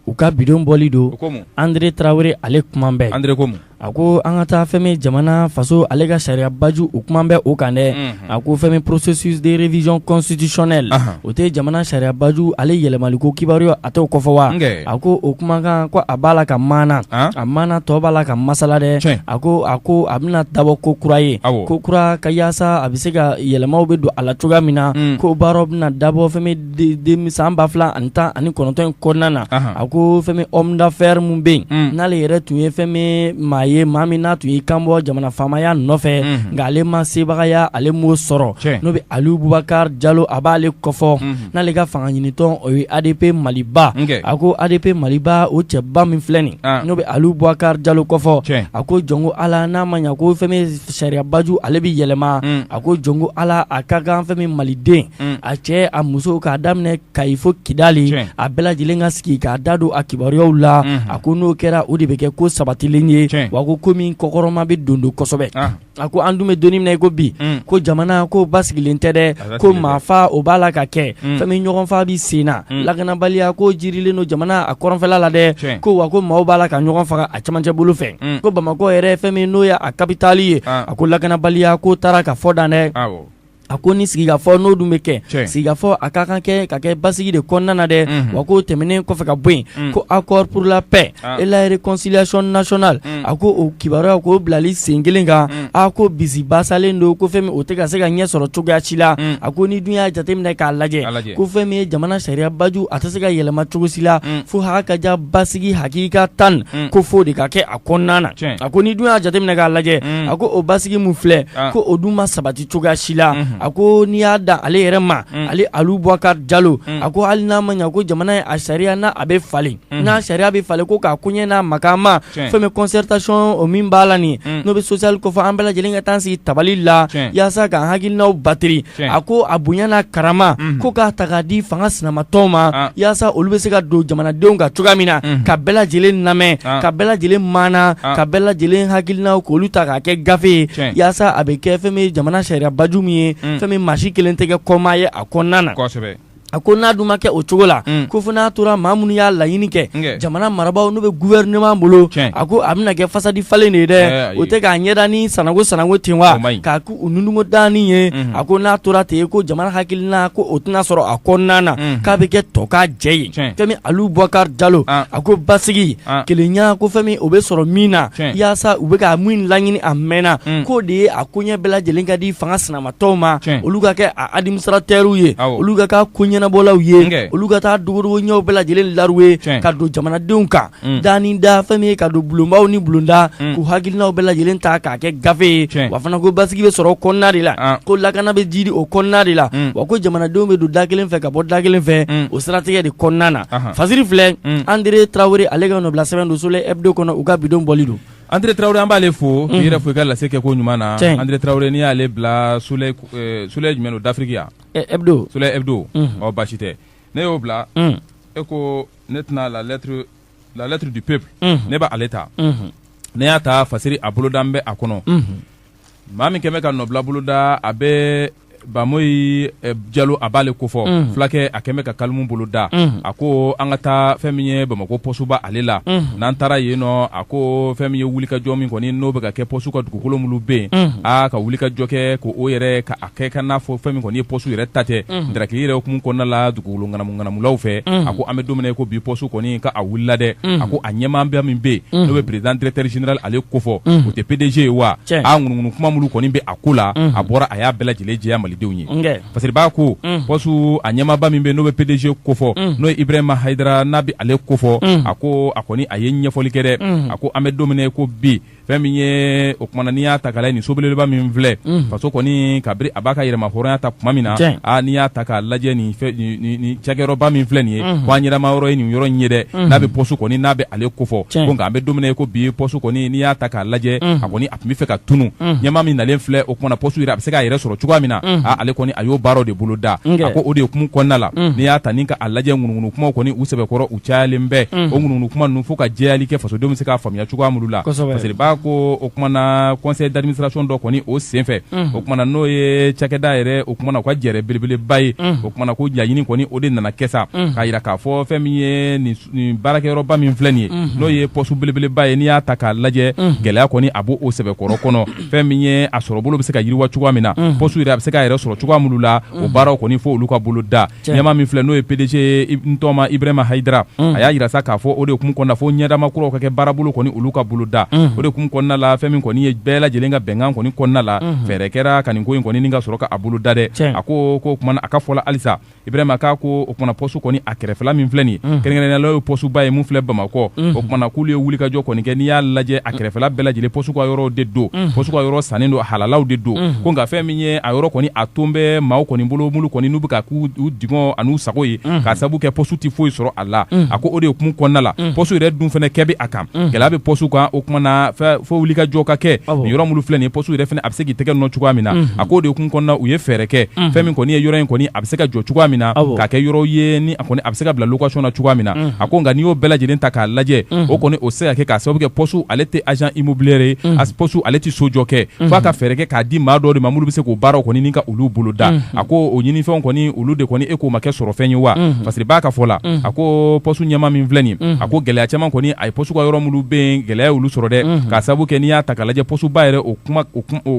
u ka bidon bɔli don André Traoré ale kuma bɛɛ André a ko an ka taa fɛn min jamana faso ale ka sariyabaju o kuma bɛ o kan dɛ a ko fɛn min processus de révision constitutionnelle o tɛ jamana sariyabaju ale yɛlɛmaliko kibaruya a t'o kofɔ wa a ko o kuma kan ko a b'a la ka maana a maana tɔ b'a la ka masala dɛ a ko a ko a bɛna dabɔ ko kura ye ko kura ka yaasa a bɛ se ka yɛlɛmaw bɛ don a la cogoya min na ko baara bɛna dabɔ fɛn min san ba fila ani tan ani kɔnɔntɔn in kɔnɔna na a ko fɛn min homme d'affaires mun bɛ yen n'ale yɛrɛ tun ye fɛn min maa ye maa min n'a tun y'i kan bɔ jamana faamaya nɔfɛ nka ale ma sebagaya ale m'o sɔrɔ n'o bɛ aliyu bubakari jalo a b'ale kofɔ n'ale ka fanga ɲinitɔn o ye ADP maliba, ok, a ko ADP maliba o cɛba min filɛ nin n'o bɛ Alu Bubakari Jalo kofɔ, tiɲɛ, a ko jɔn ko Ala n'a ma ɲɛ ko fɛn min sariyabaju ale bɛ yɛlɛma, a ko jɔn ko Ala a ka kan fɛn min maliden a cɛ a muso k'a daminɛ kayi fo kidali a bɛɛ lajɛlen ka sigi k'a da don a kibaruyaw la a ko n'o kɛra o de bɛ kɛ ko sabatilen ye wa ko ko min kɔkɔrɔma bɛ don don kosɛbɛ A ko an dun bɛ don min na i ko bi ko jamana ko basigilen tɛ dɛ ko maafaa o b'a la ka kɛ fɛn min ɲɔgɔnfaa bɛ sen na lakanabaliya ko jirilen don jamana a kɔrɔnfɛla la dɛ ko wa ko maaw b'a la ka ɲɔgɔn faga a camancɛ bolo fɛ ko bamakɔ yɛrɛ fɛn min n'o ye a kapitali ye a ko lakanabaliya ko taara ka fɔ dan dɛ A ko ni sigikafɔ n'o dun bɛ kɛ tiɲɛ sigikafɔ a ka kan kɛ ka kɛ basigi de kɔnɔna na dɛ unhun wa k'o tɛmɛnen kɔfɛ ka bɔ yen unh ko accord pour la paix an et la réconciliation nationale unh a ko o kibaruyaw k'o bilali sen 1 kan unh a ko bisibasalen don ko fɛn min o tɛ ka se ka ɲɛ sɔrɔ cogoya si la unh a ko n'i dun y'a jateminɛ k'a lajɛ a lajɛ ko fɛn min ye jamana sariya baju a tɛ se ka yɛlɛma cogo si la unh fo haa ka diya basigi hakika tan unh ko f'o de ka kɛ a kɔnɔna na tiɲɛ a ko n'i dun y'a jateminɛ k'a lajɛ unh a ko o basigi mun filɛ an ko o dun ma sabati cogoya si la a ko n'i y'a da ale yɛrɛ ma ale Alu Boubacar Diallo a ko hali n'a ma ɲɛ ko jamana ye a sariya n'a bɛ falen n'a sariya bɛ falen ko k'a koɲɛ n'a makan ma fɛn min concertation o min b'a la nin n'o bɛ sociale ko fɔ an bɛɛ lajɛlen ka taa sigi tabali la yaasa k'an hakilinaw bateri a ko a bonya n'a karama ko k'a ta k'a di fanga sinamatɔnw ma yaasa olu bɛ se ka don jamanadenw kan cogoya min na ka bɛɛ lajɛlen lamɛn ka bɛɛ lajɛlen mana ka bɛɛ lajɛlen hakilinaw k'olu ta kɛ gafe ye yaasa a bɛ kɛ fɛn ye jamana sariyabaju min ye fɛn min maa si kelen tɛ kɛ kɔmaa ye a kɔnɔna na a ko n'a dun ma kɛ o cogo la ko fo n'a tora maa minnu y'a laɲini kɛ jamana marabaaw n'u bɛ gouvernement bolo a ko a bɛna kɛ fasadi falen de ye dɛ o tɛ k'a ɲɛda ni sananko sananko ten wa k'a ko u ninnu dan ye a ko n'a tora ten ko jamana hakilina ko o tɛna sɔrɔ a kɔnɔna na k'a bɛ kɛ tɔkajɛ ye fɛn min Alu Boubacar Diallo a ko basigi kelenya ko fɛn min o bɛ sɔrɔ min na yaasa u bɛ ka min laɲini a mɛnna k'o de ye a koɲɛ bɛɛ lajɛlen ka di fanga sinamatɔnw ma olu ka kɛ a administrateurw ye olu ka kɛ koɲɛnabɔlaw ye olu ka taa dogodogo ɲɛw bɛɛ lajɛlen lauru ye ka don jamanadenw kan da ni da fɛn min ye ka don bulonbaw ni bulonda k'u hakilinaw bɛɛ lajɛlen ta k'a kɛ gafe ye wa fana ko basigi bɛ sɔrɔ o kɔnɔna de la ko lakana bɛ jidi o kɔnɔna de la wa ko jamanadenw bɛ don da kelen fɛ ka bɔ da kelen fɛ o siratigɛ de kɔnɔna na Fasiri filɛ André Traoré ale ka nɔbila sɛbɛn don Soleil Hebdo kɔnɔ u ka bidon bɔli don André Traoré an b'ale fo i yɛrɛ fo i ka lase kɛ ko ɲuman na André Traoré n'i y'ale bila Soleil jumɛn don d'Afrique ya Hebdo Soleil Hebdo ɔ basi tɛ ne y'o bila e ko ne tɛna la lettre la lettre du peuple ne b'ale ta ne y'a ta fasiri a boloda bɛ a kɔnɔ maa min kɛmɛ ka nɔbila boloda a bɛ bamoyi eh, jalo a b'ale ko fɔ mm. fulakɛ a kɛmɛ ka kalimu boloda mm. a ko an ka taa fɛn min ye bamakɔ pɔsuba ale la mm. n'an taara yen nɔ a ko fɛn min ye wulikajɔ min kɔni n'o bɛ ka kɛ pɔsu ka dugukolo minnu bɛ yen mm. a ka wulikajɔ kɛ ko o yɛrɛ ka a kɛ ka n'a fɔ fɛn min kɔni ye pɔsu yɛrɛ ta tɛ mm. darakili yɛrɛ hukumu kɔnɔna la dugukolo ŋanamuŋanamulaw fɛ mm. a ko an bɛ don min na ko bi pɔsu kɔni ka a wulila dɛ mm. a ko a ɲɛmaaba min bɛ yen mm. n'o bɛ président directeur général ale ko fɔ mm. o tɛ pdg ye wa a ŋunuŋunu kuma minnu kɔni bɛ a ko la a bɔra a y'a bɛɛ lajɛlen jɛya malidenw ye parce que b'a ko pɔsu a ɲɛmaaba min bɛ n'o bɛ pdg kofɔ n'o ye ibrahima hayidara n'a bɛ ale kofɔ a ko a kɔni a ye ɲɛfɔli kɛ dɛ a ko an bɛ don min i ko bi fɛn min ye o kumana n'i y'a ta k'a lajɛ nin so belebeleba min filɛ faso kɔni kabiri a b'a ka yɛrɛmahɔrɔnya ta tuma min na a n'i y'a ta k'a lajɛ nin cakɛyɔrɔba min filɛ nin ye ko an ɲɛdama yɔrɔ ye nin yɔrɔ in ye dɛ n'a bɛ pɔsu kɔni n'a bɛ ale kofɔ nka an bɛ don min i ko bi pɔsu kɔni n'i y'a ta k'a lajɛ a kɔni tun bɛ fɛ ka tunun ɲɛmaa min nalen filɛ o kumana pɔsu yɛrɛ a bɛ se k'a yɛrɛ sɔrɔ cogoya min na ale kɔni a y'o baaraw de bolo da a ko o de ye hukumu kɔnɔna la n'i y'a ta ni ka a lajɛ ŋunuŋunu kumaw kɔni u sɛbɛkɔrɔ u cayalen bɛɛ o ŋunuŋunu kuma ninnu fo ka jɛyali kɛ fasodenw bɛ se k'a faamuya cogoya minnu la parce que b'a ko o kumana conseil d'administration dɔ kɔni o senfɛ o kumana n'o ye cakɛda yɛrɛ o kumana u ka jɛrɛ belebeleba ye o kumana ko laɲini kɔni o de nana kɛ sa k'a yira k'a fɔ fɛn min ye nin nin baarakɛyɔrɔba min filɛ nin ye mhm. n'o ye pɔsu belebeleba ye n'i y'a ta k'a lajɛ mhm. gɛlɛya kɔni a b'o o sɛbɛkɔrɔ kɔnɔ fɛn min ye a sɔrɔ bolo bɛ se ka yiriwa cogoya min na mhm. pɔsu yɛrɛ a bɛ se k'a yɛrɛ sɔrɔ cogoya minnu la o baaraw kɔni fo olu ka bolo da ɲɛmaa min filɛ n'o ye pdg n tɔma ibrahima hayidara a y'a yira sa k'a fɔ o de hukumu kɔnɔna fo ɲɛdama kuraw ka kɛ baarabolo kɔni olu ka bolo da o de hukumu kɔnɔna la fɛn min kɔni ye bɛɛ lajɛlen ka bɛnkan kɔni kɔnɔna la fɛɛrɛ kɛra ka nin ko in kɔni ni ka sɔrɔ ka a bolo da dɛ a ko o kumana a ka fɔla halisa ibrahima k'a ko o kumana pɔsu kɔni a kɛrɛfɛla min filɛ nin ye mhm. kɛrɛnkɛrɛnnenya la o ye pɔsuba ye mun filɛ bamakɔ mhm. o kumana k'olu ye wulikajɔ kɔni kɛ n'i y'a lajɛ a kɛrɛfɛla bɛɛ lajɛlen pɔsu ka yɔrɔw de don mhm. pɔsu ka yɔrɔ sannen don halalaw de don ko nka fɛn min ye a yɔrɔ kɔni a tun bɛ maaw kɔni bolo mulu kɔni n'u bɛ k'a k'u dungɔ an'u sago ye k'a sabu kɛ pɔsu tɛ foyi sɔrɔ a la a ko o de ye hukumu kɔnɔna la pɔsu yɛrɛ dun fana kɛ bɛ a kan gɛlɛya bɛ pɔsu kan o kumana fo wulikajɔ ka kɛ nin yɔrɔ minnu filɛ nin ye pɔsu yɛrɛ fana a bɛ se k'i tɛgɛ nɔ cogoya min na a ko o de hukumu kɔnɔna u ye fɛɛrɛ kɛ fɛn min kɔni ye yɔrɔ in kɔni a bɛ se ka jɔ cogoya min na k'a kɛ yɔrɔ ye ni a kɔni a bɛ se ka bila location na cogoya min na a ko nka n'i y'o bɛɛ lajɛlen ta k'a lajɛ o kɔni o tɛ se ka kɛ k'a sababu kɛ pɔsu ale tɛ agent immobilier ye pɔsu ale tɛ sojɔ kɛ fo a ka fɛɛrɛ kɛ k'a di maa dɔw de ma mulu bɛ se k'o baaraw kɔni ni ka olu bolo da a ko o ɲinifɛnw kɔni olu de kɔni e k'o ma kɛ sɔrɔ fɛn ye wa parce que b'a ka fɔ la a ko pɔsu ɲɛmaa min filɛ nin a ko gɛlɛya caman kɔni a ye pɔsu ka yɔrɔ minnu bɛ gɛlɛya y'olu sɔrɔ dɛ k'a sabu kɛ n'i y'a ta k'a lajɛ pɔsuba yɛrɛ o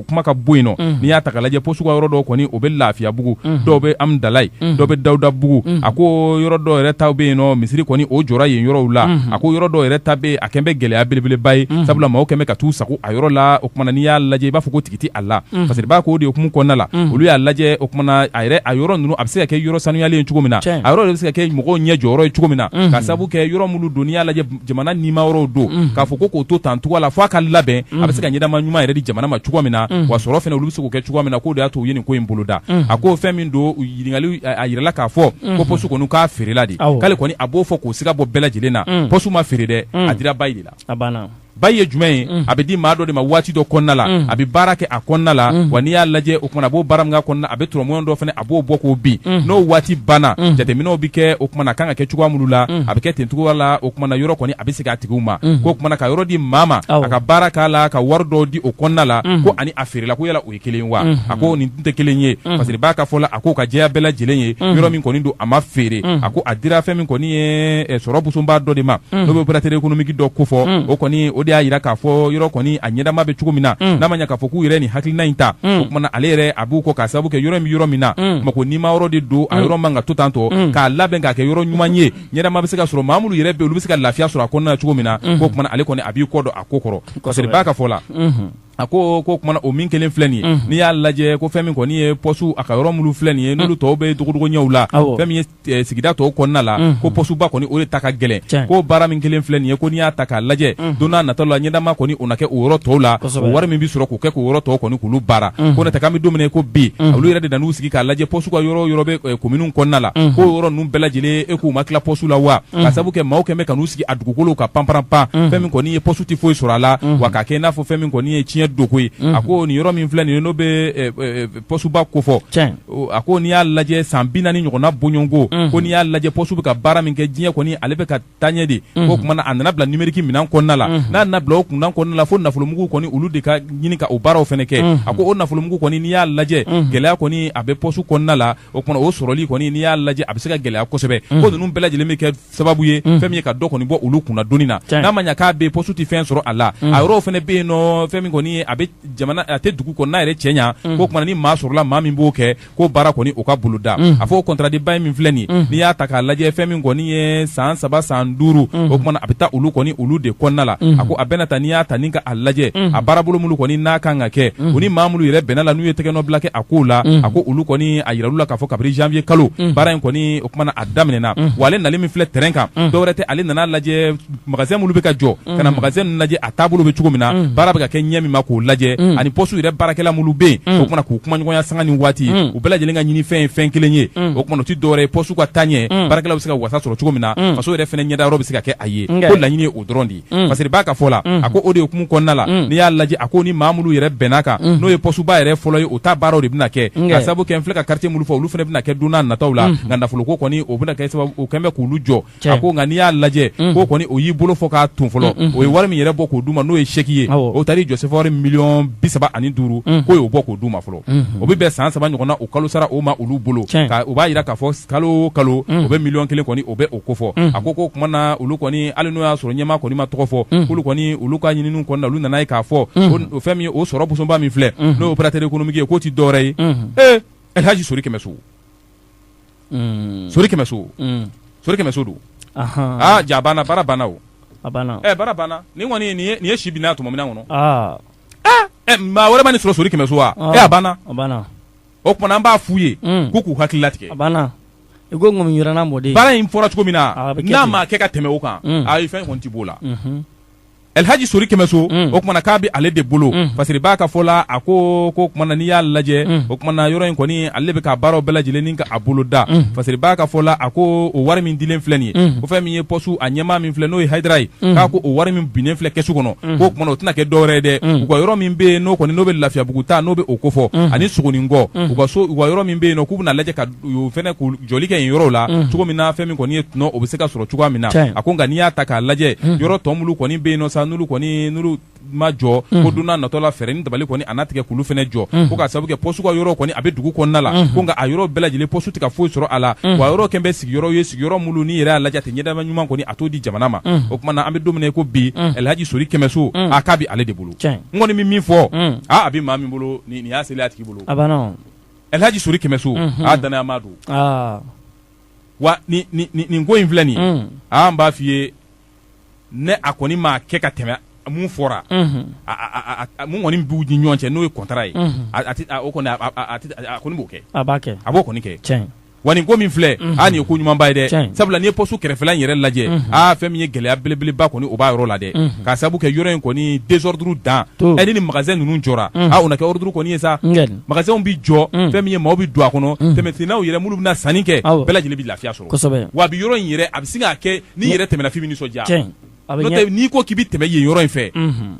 kuma ka bɔ yen nɔ n'i y'a ta lajɛ pɔsu ka yɔrɔ dɔ kɔni o bɛ lafiyabugu dɔw bɛ hamdalayi dɔw bɛ dawudabugu a ko yɔrɔ dɔw yɛrɛ ta bɛ yen nɔ misiri kɔni o jɔra yen yɔrɔw la a ko yɔrɔ dɔw yɛrɛ ta a kɛlen bɛ gɛlɛya belebeleba ye sabula mɔgɔw kɛlen bɛ ka t'u sago a yɔrɔ la o kumana n'i y'a lajɛ i b'a fɔ ko tigi tɛ a la unhun parce que b'a ko o de hukumu kɔnɔna la unhun olu y'a lajɛ o kumana a yɛrɛ a yɔrɔ ninnu a bɛ se ka kɛ yɔrɔ sanuyalen ye cogo min na tiɲɛ a yɔrɔ de bɛ se ka kɛ mɔgɔw ɲɛ jɔyɔrɔ ye cogo min na unhun k'a sababu kɛ yɔrɔ minnu don n'i y'a lajɛ jamana nima yɔrɔw don unhun k'a fɔ ko k'o to tan cogoya la f'a ka labɛn unhun a bɛ se ka ɲɛdama ɲuman yɛrɛ di jamana ma cogoya min na unhun wa sɔrɔ fana olu bɛ se k'o kɛ cogoya min na k'o de y'a to u ye nin ko in boloda unhun a ko fɛn min don u ɲininkali a a yirala k'a fɔ ko unhun poste kɔni k'a feerela de awɔ k'ale kɔni a b'o fɔ k'o siga bɔ bɛɛ lajɛlen na unhun poste ma feere dɛ a unhun dira bail de la a banna bail ye jumɛn ye a bɛ di maa dɔ de ma waati dɔ kɔnɔna la a bɛ baara kɛ a kɔnɔna la wa n'i y'a lajɛ o kumana a b'o baara min k'a kɔnɔna a bɛ tɔrɔmɔɲɔn dɔ fana a b'o bɔ k'o bin n'o waati banna jateminɛw bɛ kɛ o kumana a kan ka kɛ cogoya minnu la a bɛ kɛ ten cogoya la o kumana yɔrɔ kɔni a bɛ segin a tigiw ma k'o kumana ka yɔrɔ di maa ma a ka baara k'a la ka wari dɔ di o kɔnɔna la ko ani a feerela ko yala kelen wa a ko nin tɛ kelen ye parce que b'a ka fɔ la a ko ka jɛya bɛɛ lajɛlen ye yɔrɔ min kɔni don a ma feere a ko a dira fɛn min kɔni ye sɔrɔ busoba dɔ de ma n'o bɛ opérateur économique dɔ ko fɔ o kɔni o de y'a jira k'a fɔ yɔrɔ kɔni a ɲɛdama bɛ cogo min na n'a ma ɲɛ k'a fɔ k'u yɛrɛ nin hakilina in ta o kumana ale yɛrɛ a b'u kɔ ka sababu kɛ yɔrɔ min yɔrɔ min na ma ko ni ma yɔrɔ de don a yɔrɔ man ka to tan tɔ k'a labɛn k'a kɛ yɔrɔ ɲuman ye ɲɛdama bɛ se ka sɔrɔ maa minnu yɛrɛ bɛ olu bɛ se ka lafiya sɔrɔ a kɔnɔna cogo min na k'o kumana ale kɔni a b'i kɔ don a ko kɔrɔ b'a ka fɔ la a ko ko kumana o min kelen filɛ nin ye n'i y'a lajɛ ko fɛn min kɔni ye pɔsu a ka yɔrɔ minnu filɛ nin ye n'olu tɔw bɛ dogodogoɲɛw la fɛn min ye eh, sigida tɔw kɔnɔna la ko pɔsuba kɔni o de ta ka gɛlɛn ko baara min kelen filɛ nin ye ko n'i y'a ta k'a lajɛ don n'a nataw la ɲɛdama kɔni o na kɛ o yɔrɔ tɔw la o wari min bɛ sɔrɔ k'o kɛ k'o yɔrɔ tɔw kɔni k'olu baara ko n'o tɛ k'an bɛ don min na i ko bi olu yɛrɛ de nan'u sigi k'a lajɛ pɔsu ka yɔrɔ o yɔrɔ bɛ eh, kominiw kɔnɔna la ko o yɔrɔ ninnu bɛɛ lajɛlen e k'u ma tila pɔsu la wa ka sabu kɛ maaw kɛn bɛ ka n'u sigi a dugukolo kan panparanpan fɛn min kɔni ye pɔsu tɛ foyi sɔrɔ a la wa ka kɛ i n'a fɔ fɛn min kɔni ye tiɲɛ doko ye a ko nin yɔrɔ min filɛ nin ye n'o bɛ pɔsuba kofɔ a ko n'i y'a lajɛ san bi naani ɲɔgɔnna bɔɲɔgɔnko ko n'i y'a lajɛ pɔsu bɛ ka baara min kɛ diɲɛ kɔni ale bɛ ka taaɲɛ de k'o kumana a nana bila numérique minɛn kɔnɔna la n'a nana bila o kun kɔnɔna la fo nafolomugu kɔni olu de ka ɲini ka o baaraw fana kɛ a ko o nafolomugu kɔni n'i y'a lajɛ gɛlɛya kɔni a bɛ pɔsu kɔnɔna la o kumana o sɔrɔli kɔni n'i y'a lajɛ a bɛ se ka gɛlɛya kosɛbɛ mm. ko ninnu bɛɛ lajɛlen bɛ kɛ sababu ye mm. fɛn min ye ka dɔ kɔni bɔ olu kunna doni na n'a ma ɲɛ k'a bɛ poste tɛ fɛn sɔrɔ a la mm. a yɔrɔw fana bɛ yen nɔ fɛn min kɔni ye a bɛ jamana a tɛ dugu kɔnɔna yɛrɛ cɛ ɲa k'o kumana ni maa sɔrɔla maa min b'o kɛ k'o baara kɔni o ka boloda a fɔ o contrat de bail min filɛ nin n'i y'a ta k'a lajɛ fɛn min kɔni ye san saba san duuru o kumana a bɛ taa olu kɔni olu de kɔnɔna la a ko a bɛna ta n'i y'a ta ni ka lajɛ a baarabolo minnu kɔni n'a kan ka kɛ u ni maa minnu yɛrɛ bɛnna la n'u ye tɛgɛnɔbila kɛ a kow la a ko olu kɔni a yira olu la k'a fɔ kabiri janvier kalo baara in kɔni o kumana a daminɛna wa ale nali min filɛ terrain kan dɔwɛrɛ tɛ ale nana lajɛ magasin minnu bɛ ka jɔ ka na magasin ninnu lajɛ a taabolo bɛ cogo min na baara bɛ ka kɛ ɲɛ min ma k'o lajɛ ani poste yɛrɛ baarakɛla minnu bɛ yen o kumana k'u kumaɲɔgɔnya sanga ni waati u bɛɛ lajɛlen ka ɲinifɛn ye fɛn kelen ye o kumana o tɛ dɔwɛrɛ ye poste ka taaɲɛ baarakɛlaw bɛ se ka wasa sɔrɔ cogo min na faso yɛrɛ fana ɲɛdayɔrɔ bɛ se ka kɛ a ye ko laɲini ye o dɔrɔn de ye Mm. parce que b'a ka fɔ la mm. a ko o de hukumu kɔnɔna la mm. n'i y'a lajɛ a ko ni maa minnu yɛrɛ bɛnna kan n'o ye pɔsuba yɛrɛ fɔlɔ ye o ta baaraw de bɛna kɛ ka sababu kɛ n filɛ ka quartier minnu fɔ olu fana bɛna kɛ don n'a nataw la nka nafoloko kɔni o bɛna kɛ sababu o kɛn bɛ k'olu jɔ a ko nka n'i y'a lajɛ k'o kɔni o y'i bolo fɔ k'a ton fɔlɔ o ye wari min yɛrɛ bɔ k'o d'u ma n'o ye chèque ye o taar'i jɔ sefawari miliyɔn bi saba ani duuru k'o y'o bɔ k'o d'u ma fɔlɔ o bɛ bɛn san saba ɲɔgɔnna o kalosara o ma olu bolo o b'a yira k'a fɔ kalo o kalo o bɛ miliyɔn kelen kɔni o bɛ o ko fɔ a ko k'o kumana olu kɔni hali n'o y'a sɔrɔ ɲɛmaa kɔni ma tɔgɔ fɔ k'olu kɔni olu ka ɲininiw kɔnɔna olu nana ye k'a fɔ o fɛn min ye o sɔrɔ bosoba min filɛ n'o ye opérateur économique ye k'o tɛ dɔwɛrɛ ye ee elhaji sori kɛmɛso sori kɛmɛso sori kɛmɛso don aa ja banna baara banna o baara banna nin kɔni nin ye si binna tuma min na kɔnɔ maa wɛrɛ ma nin sɔrɔ sori kɛmɛso wa a banna o kumana an b'a f'u ye k'u k'u hakili latigɛ banna i ko mɔden baara in fɔra cogo min na n'a ma kɛ ka tɛmɛ o kan a ye fɛn kɔni tɛ b'o la Elhaji Sori Kɛmɛso, un, o kumana k'a bɛ ale de bolo, un, Fasiri Ba ka fɔ la, a ko k'o kumana n'i y'a lajɛ, un, o kumana yɔrɔ in kɔni ale bɛ k'a baaraw bɛɛ lajɛlen ni ka a bolo da, un, Fasiri Ba ka fɔ la, a ko o wari min dilen filɛ nin ye, un, ko fɛn min ye poste a ɲɛmaa min filɛ n'o ye Hayidara ye, un, k'a ko o wari min binnen filɛ kɛsu kɔnɔ, un, k'o kumana o tɛna kɛ dɔwɛrɛ ye dɛ, un, u ka yɔrɔ min bɛ yen n'o kɔni n'o bɛ Lafiyabugu ta n'o bɛ o ko fɔ, un, ani Sogonikɔ, un, u ka so u ka yɔrɔ min bɛ yen nɔ k'u bɛna lajɛ ka u fɛnɛ k'u jɔli kɛ yen yɔrɔw la unhun cogo min na fɛn min kɔni ye tɔnɔ o bɛ se ka sɔrɔ cogoya min na tiɲɛ a ko nka n'i y'a ta k'a lajɛ unhun yɔrɔ tɔ minnu kɔni bɛ yen nɔ sa n'olu kɔni n'olu ma jɔ unhun ko don n'a nataw la fɛɛrɛ ni dabali kɔni a na tigɛ k'olu fɛnɛ jɔ unhun ko k'a sababu kɛ poste ka yɔrɔ kɔni a bɛ dugu kɔnɔna la unhun ko nka a yɔrɔ bɛɛ lajɛlen poste tɛ ka foyi sɔrɔ a la unhun wa a yɔrɔ kɛlen bɛ sigiyɔrɔ ye sigiyɔrɔ minnu n'i yɛrɛ y'a lajɛ a tɛ ɲɛdama ɲuman kɔni a t'o di jamana ma unhun o kumana an bɛ don min na i ko bi unhun Ɛlihaji Sori Kɛmɛso unhun a k'a bɛ ale de bolo tiɲɛ n kɔni bɛ min fɔ unhun aa a bɛ maa min bolo nin nin y'a selen y'a tigi bolo a banna o. Elhadji Sory Kɛmɛso, unhun, a danayamaa don, aa, wa nin nin nin ko in filɛ nin ye, un, aa n b'a f'i ye ne a kɔni m'a kɛ ka tɛmɛ mun fɔra, unhun, a a a mun kɔni b'u ni ɲɔgɔn cɛ n'o ye contrat ye, unhun, a a tɛ o kɔni a a a a kɔni b'o kɛ, a b'a kɛ, a b'o kɔni kɛ, tiɲɛ wa nin ko min filɛ mhm. a nin ye ko ɲumanba ye dɛ sabula n'i ye pɔsu kɛrɛfɛla in yɛrɛ lajɛ mhm. a fɛn min ye gɛlɛya belebeleba kɔni o b'a yɔrɔ la dɛ mhm. k'a sabu kɛ yɔrɔ in kɔni désordre dan ɛni ni magasin ninnu jɔra a o na kɛ ordre kɔni ye sa magasinw bi jɔ fɛn min ye maaw bi don a kɔnɔ tɛmɛsennaw yɛrɛ minnu bɛna sanni kɛ bɛɛ lajɛlen bi lafiya sɔrɔ wa bi yɔrɔ in yɛrɛ a bɛ se k'a kɛ n'i yɛrɛ tɛmɛna f'i bi nisɔndiya n'i ko k'i bɛ tɛmɛ yen yɔrɔ in fɛ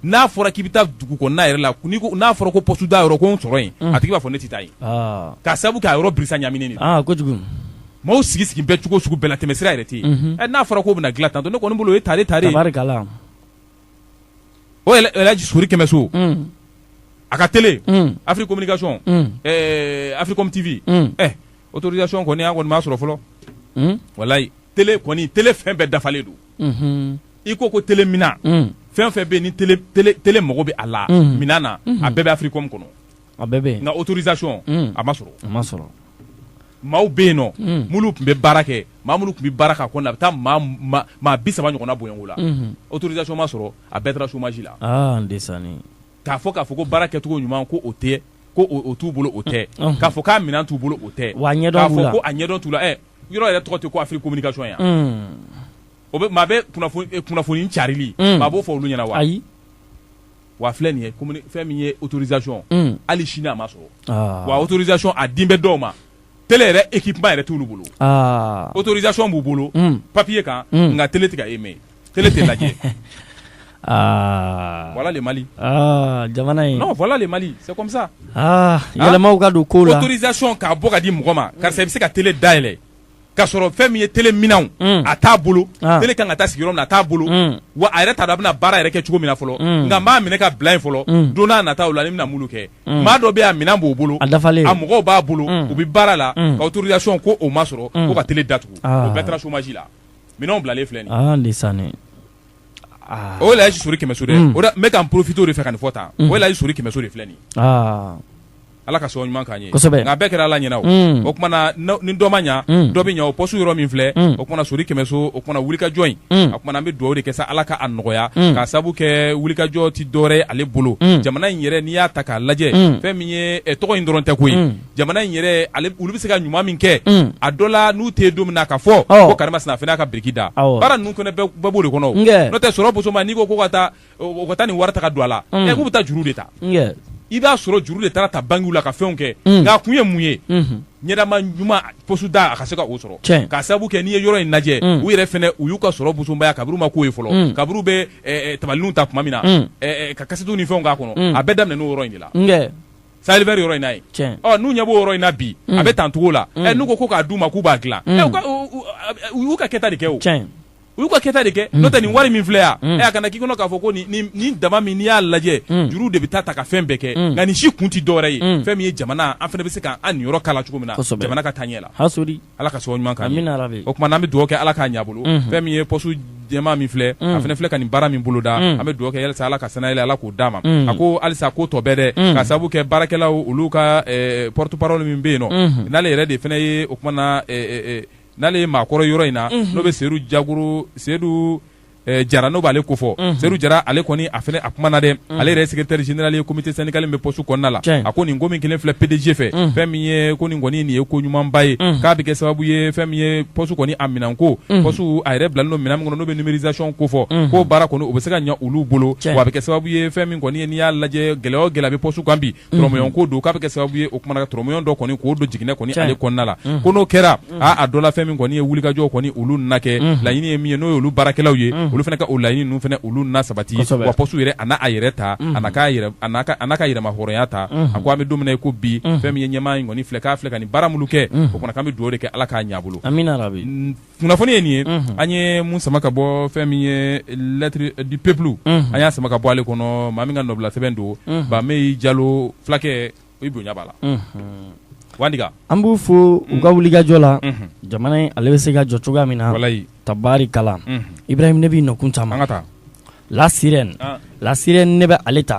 n'a fɔra k'i bɛ taa dugu kɔnɔna yɛrɛ la n'a fɔra ko poste da yɔrɔ ko n sɔrɔ yen a tigi b'a fɔ ne tɛ taa yen k'a sabu kɛ a yɔrɔ birisa ɲaminen maaw sigi sigi bɛ cogo sugu bɛɛ la tɛmɛsira yɛrɛ tɛ yen n'a fɔra k'o bɛna dilan tan ne kɔni bolo o ye tare ta o sori kɛmɛso a ka télé Afrique Communication Africom TV autorisation kɔni an kɔni m'a sɔrɔ fɔlɔ walayi télé kɔni télé fɛn bɛɛ dafalen don i ko ko télé minɛn fɛn fɛn bɛ ni télé mago bɛ a la minɛn na a bɛɛ bɛ Africom kɔnɔ a bɛɛ nka autorisation a ma sɔrɔ maaw bɛ yen nɔ mulu tun bɛ baara kɛ maa mulu tun bɛ baara k'a kɔnɔ a bɛ taa maa bi saba ɲɔgɔnna bɔɲɔgɔnko la autorisation ma sɔrɔ a bɛɛ taara chômage la k'a fɔ k'a fɔ ko baara kɛcogo ɲuman ko o tɛ ko t'u bolo o tɛ k'a fɔ k'a minɛn t'u bolo o tɛ k'a ɲɛdɔn t'u la yɔrɔ yɛrɛ tɔgɔ tɛ ko Afrique communication yan o bɛ maa bɛ kunnafoni carili maa b'o fɔ olu ɲɛna wa ayi wa filɛ nin ye fɛn min ye autorisation hali sini a ma sɔrɔ wa autorisation a dilen bɛ dɔw ma télé yɛrɛ équipement yɛrɛ t'olu bolo autorisation b'u bolo papier kan nka télé tɛ ka émet tele tɛ lajɛ aa voilà le Mali aa jamana in non voilà le Mali c'est comme ça aa yɛlɛmaw ka don kow la autorisation k'a bɔ ka di mɔgɔ ma karisa i bɛ se ka tele dayɛlɛ ka sɔrɔ fɛn min ye tele minɛnw mm. a t'a bolo ah. tele kan ka taa sigi yɔrɔ min na a t'a bolo mm. wa a yɛrɛ t'a dɔn a bɛna baara yɛrɛ kɛ cogo min na fɔlɔ mm. nka n b'a minɛ ka bila yen fɔlɔ mm. don n'a nataw la ne bɛna mulu kɛ mm. maa dɔ bɛ yen a minɛn b'o bolo a dafalen a mɔgɔw b'a bolo mm. u bɛ baara la mm. ka autorisation ko o ma sɔrɔ mm. ko ka tele datugu ah. o bɛɛ taara chômage la. minɛnw bilalen filɛ nin ye aa ndeysaan aa o elhaji sori kɛmɛso dɛ o la n bɛ ka n profiter o de fɛ ka nin fɔ tan o elhaji sori kɛmɛso de filɛ nin ye aa Ala ka sababu ɲuman k'an ye kosɛbɛ nka a bɛɛ kɛra Ala ɲɛna o o tuma na ni dɔ ma ɲa dɔ bɛ ɲa o poste yɔrɔ min filɛ o tuma na sori kɛmɛso o tuma na wulikajɔ in a tuma na an bɛ duwawu de kɛ sa Ala ka a nɔgɔya k'a sababu kɛ wulikajɔ tɛ dɔwɛrɛ ye ale bolo jamana in yɛrɛ n'i y'a ta k'a lajɛ fɛn min ye tɔgɔ in dɔrɔn tɛ koyi. jamana in yɛrɛ olu bɛ se ka ɲuman min kɛ mm. a dɔ la n'u tɛ don min na ka fɔ ko karima sina fana ka biriki da baara ninnu fana bɛɛ b'o de kɔnɔ n'o tɛ sɔrɔ bosoma n'i ko ko ka taa o ka taa nin wari ta ka don a la mm. ɛ k'u bɛ taa juru de ta i b'a sɔrɔ juru de taara ta bankiw la ka fɛnw kɛ mm. nka a kun ye mun ye mm-hmm. ɲɛnama ɲuman poste da a ka se ka o sɔrɔ k'a sabu kɛ n'i ye yɔrɔ in lajɛ mm. u yɛrɛ fana u y'u ka sɔrɔ busonbaya kaburu ma k'o ye fɔlɔ mm. kaburu bɛ eh, eh, tabalininw ta tuma min na eh, ka kasetu ni fɛnw k'a kɔnɔ a bɛɛ daminɛ n'o yɔrɔ in de la Sahel vert yɔrɔ in na yen, tiɲɛ, ɔ n'u ɲɛ b'o yɔrɔ in na bi, un, a bɛ tan cogo la, un, ɛ n'u ko ko k'a d'u ma k'u b'a dilan, un, ɛ u ka u y'u ka kɛta de kɛ o, tiɲɛ, u y'u ka kɛta de kɛ, n'o tɛ nin wari min filɛ yan, un, ɛ a kana k'i kɔnɔ k'a fɔ ko nin nin nin dama min n'i y'a lajɛ, un, juru de bɛ taa ta ka fɛn bɛɛ kɛ, un, nka nin si kun tɛ dɔwɛrɛ ye, un, fɛn min ye jamana an fana bɛ se k'an niyɔrɔ k'a la cogo min na, kosɛbɛ, jamana ka taa ɲɛ la, hasɔli Ala ka sababu ɲuman k'an ye, amina yarabi, o tuma an bɛ dugawu kɛ Ala k'a ɲɛ a bolo, unhun, fɛn min ye poste jɛman min filɛ, unhun, a fana filɛ ka nin baara min boloda, unhun, an bɛ dugawu kɛ yalasa Ala ka sanayɛlɛ Ala k'o d'a ma, unhun, a ko halisa ko tɔ bɛɛ dɛ, unhun, k'a sababu kɛ baarakɛlaw olu ka ɛ porte parole min bɛ yen nɔ, unhun, n'ale yɛrɛ de fana ye o tuma na ɛ ɛ ɛ n'ale ye maakɔrɔ ye yɔrɔ in na, unhun, n'o bɛ Seyidu Jagoro Seyidu eh, jara n'o b'ale ko fɔ mhm. seyidu jara ale kɔni a fana a kumana dɛ mhm. ale yɛrɛ ye secrétaire général ye comité syndical min bɛ poste kɔnɔna la a ko nin ko min kɛlen filɛ pdg fɛ mhm. fɛn min ye ko nin kɔni nin ye ko ɲumanba ye k'a bɛ kɛ sababu ye fɛn min ye poste kɔni a minɛnko poste a yɛrɛ bilalen don minɛn min kɔnɔ n'o bɛ numérisation ko fɔ k'o baara kɔni o bɛ se ka ɲɛ olu bolo wa a bɛ kɛ sababu ye fɛn min kɔni ye n'i y'a lajɛ gɛlɛya o gɛlɛya bɛ poste kan bi turamaɲɔgɔn ko don k'a bɛ kɛ sababu ye o kuma na ka turamaɲɔgɔn dɔ kɔni k'o don jiginɛ kɔni ale kɔnɔna la ko n'o kɛra a dɔ la fɛn min kɔni ye wulikajɔ kɔni olu na kɛ laɲini ye min ye n'o ye olu baarakɛlaw ye olu fana ka o laɲini ninnu fana olu na sabati wa poste yɛrɛ a n'a a yɛrɛ ta a n'a ka yɛrɛmahɔrɔnya ta a ko an bɛ don min na i ko bi fɛn min ye ɲɛmaa in kɔni filɛ k'a filɛ ka nin baara minnu kɛ o kɔni k'an bɛ dugawu de kɛ Ala k'a ɲɛ a bolo amina yarabi kunnafoni ye nin ye an ye mun sama ka bɔ fɛn min ye lettre du peuple an y'a sama ka bɔ ale kɔnɔ maa min ka nɔbila sɛbɛn don bameyi jalo fulakɛ i bonya b'a la wandiga an b'u fo u ka wulikajɔ la jamana in ale bɛ se ka jɔ cogoya min na tabarikala ibrahim ne b'i nɔkun caman an ka taa la sirène la sirène ne bɛ ale ta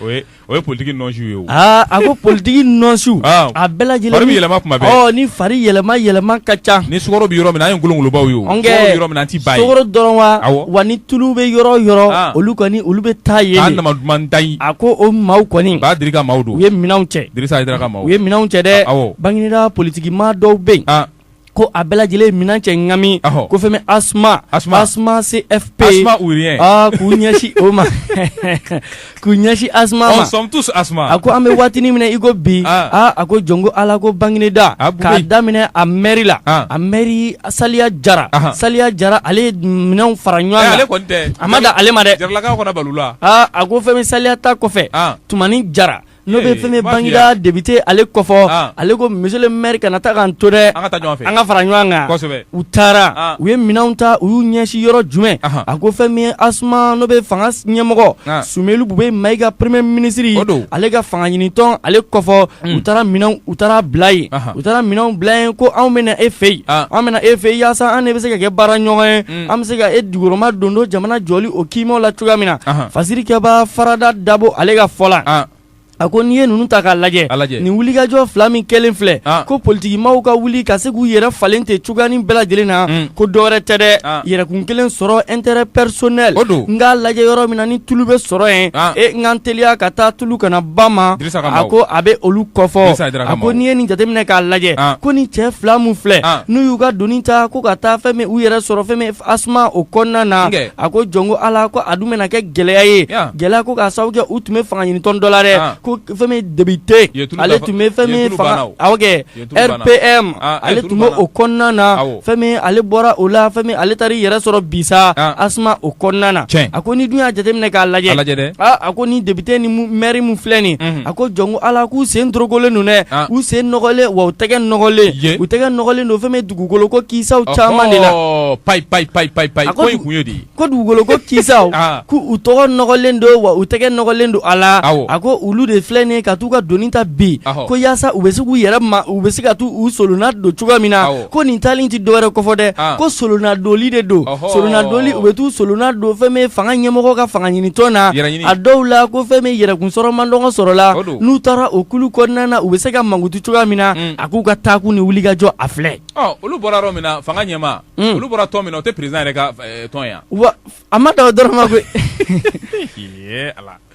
o ye politigi nɔnsiw ye aaa a ko politigi nɔnsiw a bɛɛ lajɛlen fari bɛ yɛlɛma kuma bɛɛ ni fari yɛlɛma yɛlɛma ka ca ni sukaro bɛ yɔrɔ min na an ye ngolongolobaw ye sukaro bɛ yɔrɔ min na an tɛ bɔ yen sukaro dɔrɔn wa wa ni tulu bɛ yɔrɔ o yɔrɔ olu kɔni olu bɛ taa yen duman ta a ko o maaw kɔni ba diri ka maaw don u ye minɛnw cɛ dirisa u ye minɛnw cɛ dɛ bangineda politigi maa dɔw bɛ yen ko a bɛɛ lajɛlen minɛn cɛ ŋami ko fɛn min asuma asuma cfp k'u ɲɛsin o ma k'u ɲɛsin asuma ma on sommes tous asuma a ko an bɛ waatinin min na i ko bi aa a ko jɔnko ala ko bangineda k'a daminɛ a mɛri la a mɛri saliya jara saliya jara ale ye minɛnw fara ɲɔgɔn kan a ma da ale ma dɛ a ko fɛn min saliya ta kɔfɛ tumani jara N'o bɛ fɛn bangineda depite ale ko fɔ ale ko monsieur le maire kana taa k'an to dɛ an ka fara ɲɔgɔn kan u taara u ye minɛnw ta u y'u ɲɛsin yɔrɔ jumɛn a ko fɛn min asuma n'o bɛ fanga ɲɛmɔgɔ sumelu bubɛyi mayiga premier ministre ale ka fanga ɲinitɔn ale ko fɔ u taara u taara bila yen u taara minɛnw bila yen ko anw bɛ na e fɛ yen an bɛ na e fɛ yen yaasa an de bɛ se ka kɛ baara ɲɔgɔn ye an bɛ se ka e dugukɔrɔma don don jamana jɔli o kiimaw la cogoya min na fasirikɛba farada dabo ale ka fɔ la a ko n'i ye ninnu ta k'a lajɛ nin wulikajɔ fila min kɛlen filɛ ko politigimaaw ka wuli ka se k'u yɛrɛ falen tɛ cogoyanin bɛɛ lajɛlen na ko dɔwɛrɛ tɛ dɛ yɛrɛkun kelen sɔrɔ intérêt personnel n k'a lajɛ yɔrɔ min na ni tulu bɛ sɔrɔ yen e n ka n teliya ka taa tulu kana ba ma jateminɛ k'a lajɛ ko ni cɛ fila min filɛ n'u y'u ka doni ta ko ka taa fɛn min u yɛrɛ sɔrɔ fɛn min asuma o kɔnɔna na a ko jɔn ko ala ko a dun bɛna kɛ gɛlɛya ye gɛlɛya ko k'a sababu kɛ u tun bɛ fanga ɲinitɔn dɔ la dɛ ko fɛn min depite ale tun bɛ fɛn RPM ale tun bɛ o kɔnɔna na fɛn min ale bɔra o la fɛn min ale taara i yɛrɛ sɔrɔ bisa ASMA o kɔnɔna na a ko n'i dun y'a jateminɛ k'a lajɛ a ko ni depite ni mɛri min filɛ nin a ko jɔnko ala k'u sen dorokolen don dɛ u sen nɔgɔlen wa u tɛgɛ nɔgɔlen u tɛgɛ nɔgɔlen don fɛn min dugukolo ko kisaw caman de la ko dugukolo ko kisaw ah. ko u tɔgɔ nɔgɔlen don wa u tɛgɛ nɔgɔlen don a la a ko olu de filɛ nin ka t'u ka doni ta bi ko yaasa u bɛ se k'u yɛrɛ ma u bɛ se ka t'u u solonna don cogoya min na ko nin taali tɛ dɔwɛrɛ kɔfɔ dɛ ah. ko solonna doli de don solonna doli u bɛ t'u solonna don fɛn min fanga ɲɛmɔgɔ ka fanga ɲinitɔn na a dɔw la ko fɛn min yɛrɛkunsɔrɔ mandɔngɔ sɔrɔla n'u taara o kulu kɔnɔna na u bɛ se ka mankutu cogoya min na mm. a k'u ka taakun ni wulikajɔ a filɛ olu bɔra yɔrɔ min na fanga ɲɛma olu bɔra tɔn min na o tɛ président yɛrɛ ka tɔn yan wa a ma dan o dɔrɔn ma koyi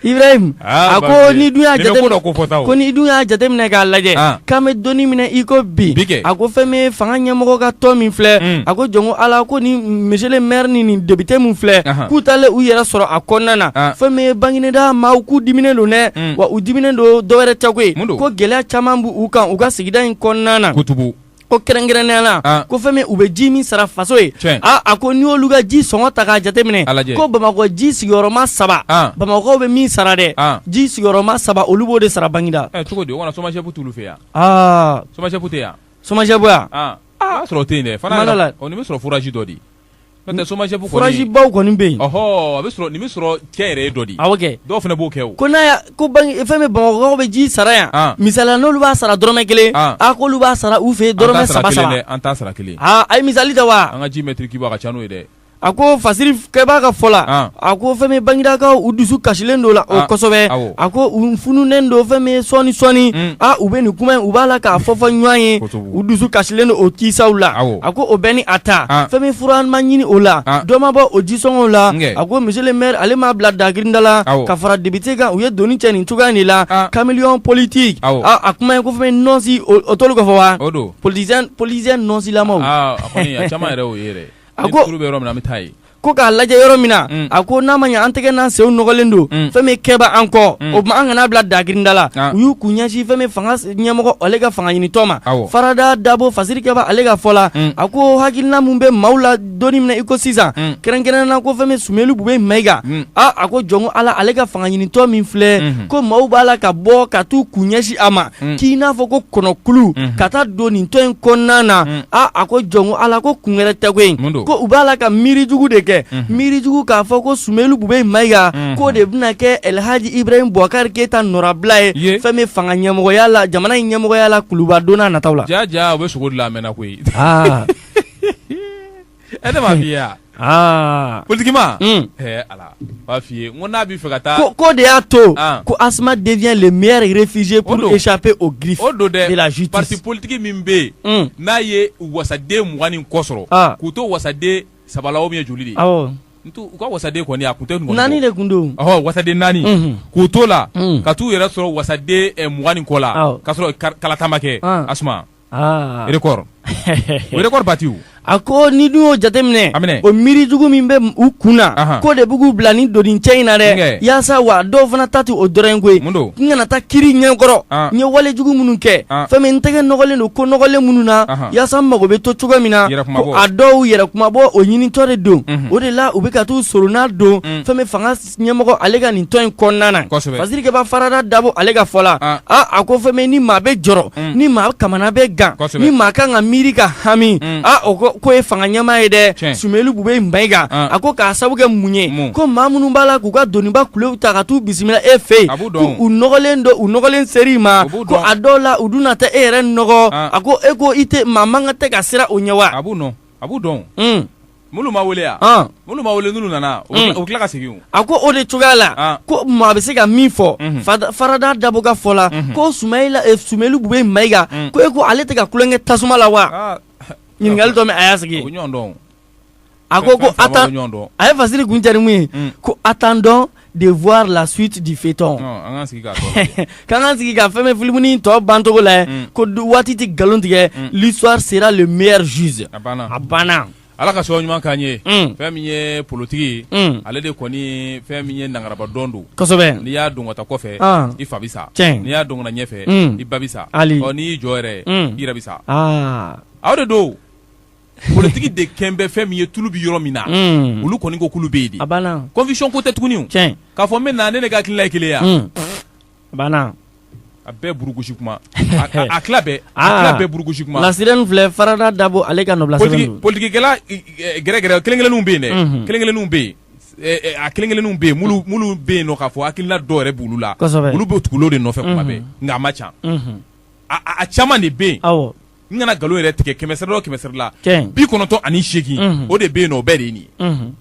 ibrahim a ko n'i dun y'a jate ko fɔta ko n'i dun y'a jate minɛ k'a lajɛ k'an bɛ don min na i ko bi a ko fɛn min fanga ɲɛmɔgɔ ka tɔn min filɛ a ko jɔnko ala ko ni monsieur le maire ni nin depite min filɛ k'u taalen u yɛrɛ sɔrɔ a kɔnɔna na fɛn min bagineda maaw k'u diminen don dɛ wa u diminen don dɔwɛrɛ tɛ koyi ko gɛlɛya caman b'u kan u ka sigida in kɔnɔna na ko kɛrɛnkɛrɛnnenya la ah. ko fɛn min u bɛ ji min sara faso ye ah, a ko n'i y'olu ka ji sɔngɔ ta k'a jateminɛ ko bamakɔ ji sigiyɔrɔma saba ah. bamakɔkaw bɛ min sara dɛ ji sigiyɔrɔma saba olu b'o de sara bagineda. Eh, cogo di o kana SOMAGEP t'olu fɛ yan. SOMAGEP tɛ yan. SOMAGEP yan. o y'a sɔrɔ o tɛ yen dɛ. fana la o nin bɛ sɔrɔ forage dɔ di. SOMAGEP forage baw kɔni bɛ yen a bɛ sɔrɔ nin bɛ sɔrɔ cɛ yɛrɛ dɔ di kɛ dɔw fana b'o kɛ ko ko fɛn min bamakɔkaw bɛ ji sara yan misali la n'olu b'a sara dɔrɔmɛ kelen a ko olu b'a sara u fɛ dɔrɔmɛ saba an t'a sara kelen aaa a ye misali ta wa an ka ji mɛtiri kibu ka ca n'o ye dɛ a ko fasiri kɛba ka fɔ la a ko fɛn min baginedakaw u dusu kasilen don la o kosɛbɛ a ko u fununnen don fɛn min sɔɔni sɔɔni u bɛ nin kuma in u b'a la k'a fɔ fɔ ɲɔgɔn ye u dusu kasilen don o kisaw la, awɔ, a ko o bɛɛ ni a ta, an, fɛn min fura an ma ɲini o la, an, dɔ ma bɔ o jisɔngɔw la, n kɛ, a ko monsieur le maire ale m'a bila dagirinda la, awɔ, ka fara député kan u ye doni cɛ nin cogoya in de la, an, caméléon politique, awɔ, a a kuma ye ko fɛn min nɔnsi o t'olu kɔfɔ wa, o don, politicien politicien nɔnsilamaw, aa a kɔni a caman yɛrɛ y'o ye dɛ, a ko, ni turu bɛ yɔrɔ min na an bɛ taa yen ko k'a lajɛ yɔrɔ min na mm. a ko n'a ma ɲɛ an tɛgɛ n'an senw nɔgɔlen don mm. fɛn min kɛba an kɔ mm. o tuma an kana bila dagirinda la ah. u y'u kun ɲɛsin fɛn min fanga ɲɛmɔgɔ ale ka fanga ɲinitɔn ma farada dabo fasiri kɛba ale ka fɔ la a ko hakilina min bɛ maaw la don min na i ko sisan kɛrɛnkɛrɛnnenya la ko fɛn min sumeyilu bubɛyi mayiga a a ko jɔnko ala ale ka fanga ɲinitɔn min filɛ mm-hmm. ko maaw b'a la ka bɔ ka t'u kun ɲɛsin a ma k'i n'a fɔ ko kɔnɔkulu ka taa don nin tɔn in kɔnɔna na aaa a ko jɔnko ala ko kun wɛrɛ tɛ koyi ko u b'a la ka miirijugu de kɛ miirijugu k'a fɔ ko sumelu bube mayiga k'o de bɛna kɛ elhaji ibrahima bubakari keyita nɔrabila ye fɛn min fanga ɲɛmɔgɔya la jamana in ɲɛmɔgɔya la kulubadon nata la ɛ ne m'a f'i ye wa aa politiquement Mm. ɛ ala n b'a f'i ye n ko n'a b'i fɛ ka taa ko k'o de y'a to Ah. ko asma devient le meilleur réfugié pour O don. échapper aux griffes o don dɛ de la justice parti politiki min bɛ yen Mm. n'a ye wasaden mugan ni kɔ sɔrɔ Ah. k'u to wasaden saba la o min ye joli de ye awɔ n t'u- u ka wasaden kɔni a kun tɛ nin kɔni naani bɔ. de kun don ɔhɔ wasaden naani Mhm. k'u t'o la Mm. ka t'u yɛrɛ sɔrɔ wasaden eh, mugan ni kɔ la Awɔ. k'a sɔrɔ kar- kalata ma kɛ Ah. asma bati a ko n'i dun y'o jateminɛ o miirijugu min bɛ u kun na k'o de bɛ k'u bila nin doni cɛ in na dɛ yaasa wa dɔw fana ta tɛ o dɔrɔn koyi n kana taa kiiri ɲɛkɔrɔ n ye walejugu minnu kɛ fɛn min n tɛgɛ nɔgɔlen don ko nɔgɔlen minnu na yaasa n mago bɛ to cogo min na ko a dɔw yɛrɛ kunmabɔ o ɲinitɔ de don o de la u bɛ ka taa u soronadon fɛn fanga ɲɛmɔgɔ ale ka nin tɔn in kɔnɔna na kosɛbɛ fasirikɛba farada dabo ale ka fɔ la an aa a ko fɛn bɛ yen ni maa bɛ jɔrɔ Un. ni maa kamana bɛ gan Kosɛbɛ. ni maa kan ka miiri ka hami Un. aa o ko k'o ye fanga ɲɛmaa ye dɛ Tiɲɛ. Sumelu Bube Mayiga An. a ko k'a sabu kɛ mun ye Mun. ko maa minnu b'a la k'u ka doniba kulew ta ka t'u bisimila e fɛ yen A b'u dɔn. ko u nɔgɔlen don u nɔgɔlen ser'i ma U b'u ko dɔn. a dɔw la u dun na taa e yɛrɛ nɔgɔ An. a ko e ko i tɛ maa man kan tɛ ka siran o ɲɛ wa a b'u dɔn a b'u dɔn o minnu ma wele yan minnu ma wele n'u nana u tila ka segin a ko o de cogoya la ko maa bɛ se ka min fɔ farada dabo ka fɔ la ko sumelu bube mayiga ko e ko ale tɛ ka tulonkɛ tasuma la wa ɲininkali dɔ a y'a sigi a ko ko a ye fasiri kuncɛ ni mun ye ko attendons de voir la suite du feuilleton k'an k'an sigi ka fɛn min filimunin tɔ bancogo lajɛ ko waati tɛ nkalon tigɛ mm. l'histoire sera le meilleur juge a banna ala ka sababu ɲuman k'an ye mm. fɛn min ye politiki mm. ale de kɔni fɛn min ye nangaraba dɔn don kosɛbɛ n'i y'a dɔn ka taa kɔfɛ ah. i fa bi sa n'i y'a dɔn ka na ɲɛfɛ i ba bi sa n'i y'i jɔ yɛrɛ i yɛrɛ bi sa ah. aw de don politiki de kɛn bɛ fɛn min ye tulu bɛ yɔrɔ min na mm. olu kɔni ko kulu bɛ yen de conviction ko tɛ tuguni k'a fɔ n bɛ na ne ne ka hakilina ye kelen ya mm. a bɛɛ burukusi kuma a tila bɛɛ a ah. tila bɛɛ burukusi kuma la sirène filɛ farada dabo ale ka nɔbila sɛbɛn don politikikɛla gɛrɛgɛrɛ kelen kelenninw bɛ yen dɛ mm-hmm. kelen kelenninw bɛ yen eh, eh, a kelen kelenninw bɛ yen minnu bɛ yen nɔ k'a fɔ hakilina dɔw yɛrɛ b'olu la olu bɛ tugu o de nɔfɛ kuma mm-hmm. bɛɛ nka a man ca mm-hmm. a caman de bɛ yen n kana nkalon yɛrɛ tigɛ kɛmɛsɛri o kɛmɛsɛri la bi kɔnɔntɔn ani seegin o de bɛ yen o bɛɛ de ye nin ye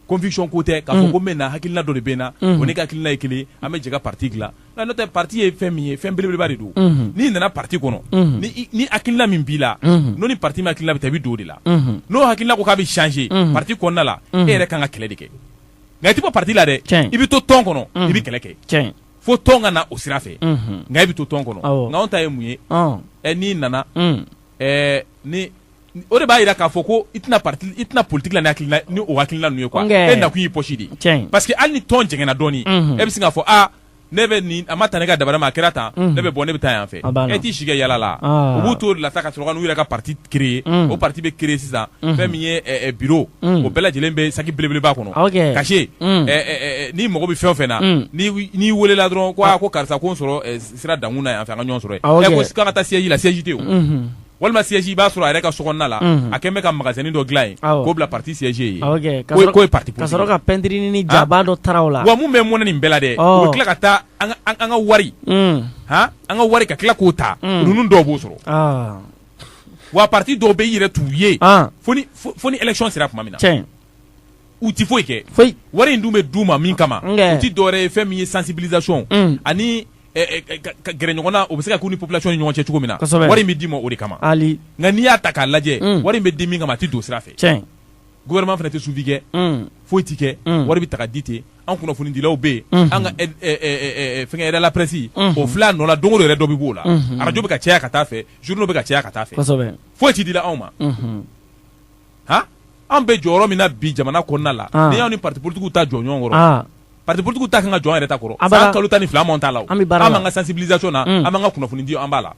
conviction ko tɛ k'a fɔ ko n bɛ na hakilila dɔ de bɛ n na o ne ka hakilila ye kelen an bɛ jɛ ka pati dilan nka n'o tɛ pati ye fɛn min ye fɛn belebeleba de don n'i nana pati kɔnɔ ni hakilila min b'i la n'o ni pati min hakilila bɛ taa i bɛ don o de la n'o hakilila ko k'a bɛ changer pati kɔnɔna la e yɛrɛ ka kan ka kɛlɛ de kɛ nka i tɛ bɔ pati la dɛ i bɛ to tɔn kɔnɔ i bɛ kɛlɛ kɛ fo tɔn ka na o sira fɛ nka i bɛ to tɔn kɔnɔ nka anw ta ye mun ye n'i nana ni o de b'a jira k'a fɔ ko i tɛ na i tɛ na politigi la hakili ni o hakilila ninnu ye quoi e nakun y'i poche de ye parce que hali ni tɔn jɛngɛnna dɔɔnini e bɛ se k'a fɔ aa ne bɛ nin a ma taa ne ka dabada ma a kɛra tan ne bɛ bɔ ne bɛ taa yan fɛ e t'i si kɛ yaala la u b'u t'o la ka sɔrɔ ka n'u yɛrɛ ka pati créer unhun, o parti bɛ créer sisan unhun, fɛn min ye ɛ, ɛ, bureau unhun, o bɛɛ lajɛlen bɛ saki belebeleba kɔnɔ ok cachet unhun, ɛ, ɛ, ɛ, n'i mago bɛ fɛn o fɛn na unhun, n'i wi- n'i welela dɔrɔn ko aa ko karisa ko n sɔrɔ ɛ, sira dankun na yan fɛ an ka ɲɔgɔn sɔrɔ yen Ah, ok. ɛ ko s- k'an ka taa siège la siège tɛ yen o. unhun, walima siège i b'a sɔrɔ a yɛrɛ ka sokɔnɔna la Unhun. a kɛn bɛ ka magasin dɔ dilan yen Awɔ. k'o bila parti siège ye ah, ok ka k'o ye- sɔrɔ- k'o ye parti ka politique sɔrɔ ye. ka pɛntirini ni jaba dɔ tara o la wa mun bɛ mɔnɛ nin bɛɛ la dɛ Ɔ. u bɛ tila ka taa an ka- an an ka wari unhun, han an ka wari ka tila k'o ta Mm. ninnu dɔw b'o sɔrɔ ah, wa pati dɔw bɛ i yɛrɛ t'u ye fo ni élection sera tuma min na u tɛ foyi kɛ foyi wari in dun bɛ d'u ma min kama o tɛ dɔwɛrɛ ye fɛn min ye sensibilisation ani gɛrɛ ɲɔgɔn na o bɛ se ka kɛ u ni population ni ɲɔgɔn cɛ cogo min na wari in bɛ d'i ma o de kama nka n'i y'a ta k'a lajɛ wari in bɛ di min kama a tɛ don sira fɛ gouvernement fana tɛ suivi kɛ foyi tɛ kɛ wari bɛ ta ka di ten an kunnafonidilaw bɛ yen an ka fɛnkɛ aide à la presse o filɛ a nɔ la don o don yɛrɛ dɔ bɛ b'o la arajo bɛ ka caya ka taa fɛ journaux bɛ ka caya ka taa fɛ foyi tɛ dila anw ma han an bɛ jɔyɔrɔ min na bi jamana kɔnɔna la n'i y'anw ni partis politiques ta jɔ ɲɔgɔn kɔrɔ. pati politigiw ta kan ka jɔ an yɛrɛ ta kɔrɔ san kalo tan ni fila ta la an b'an ka sensibilisation na an b'an ka kunnafoni di an b'a la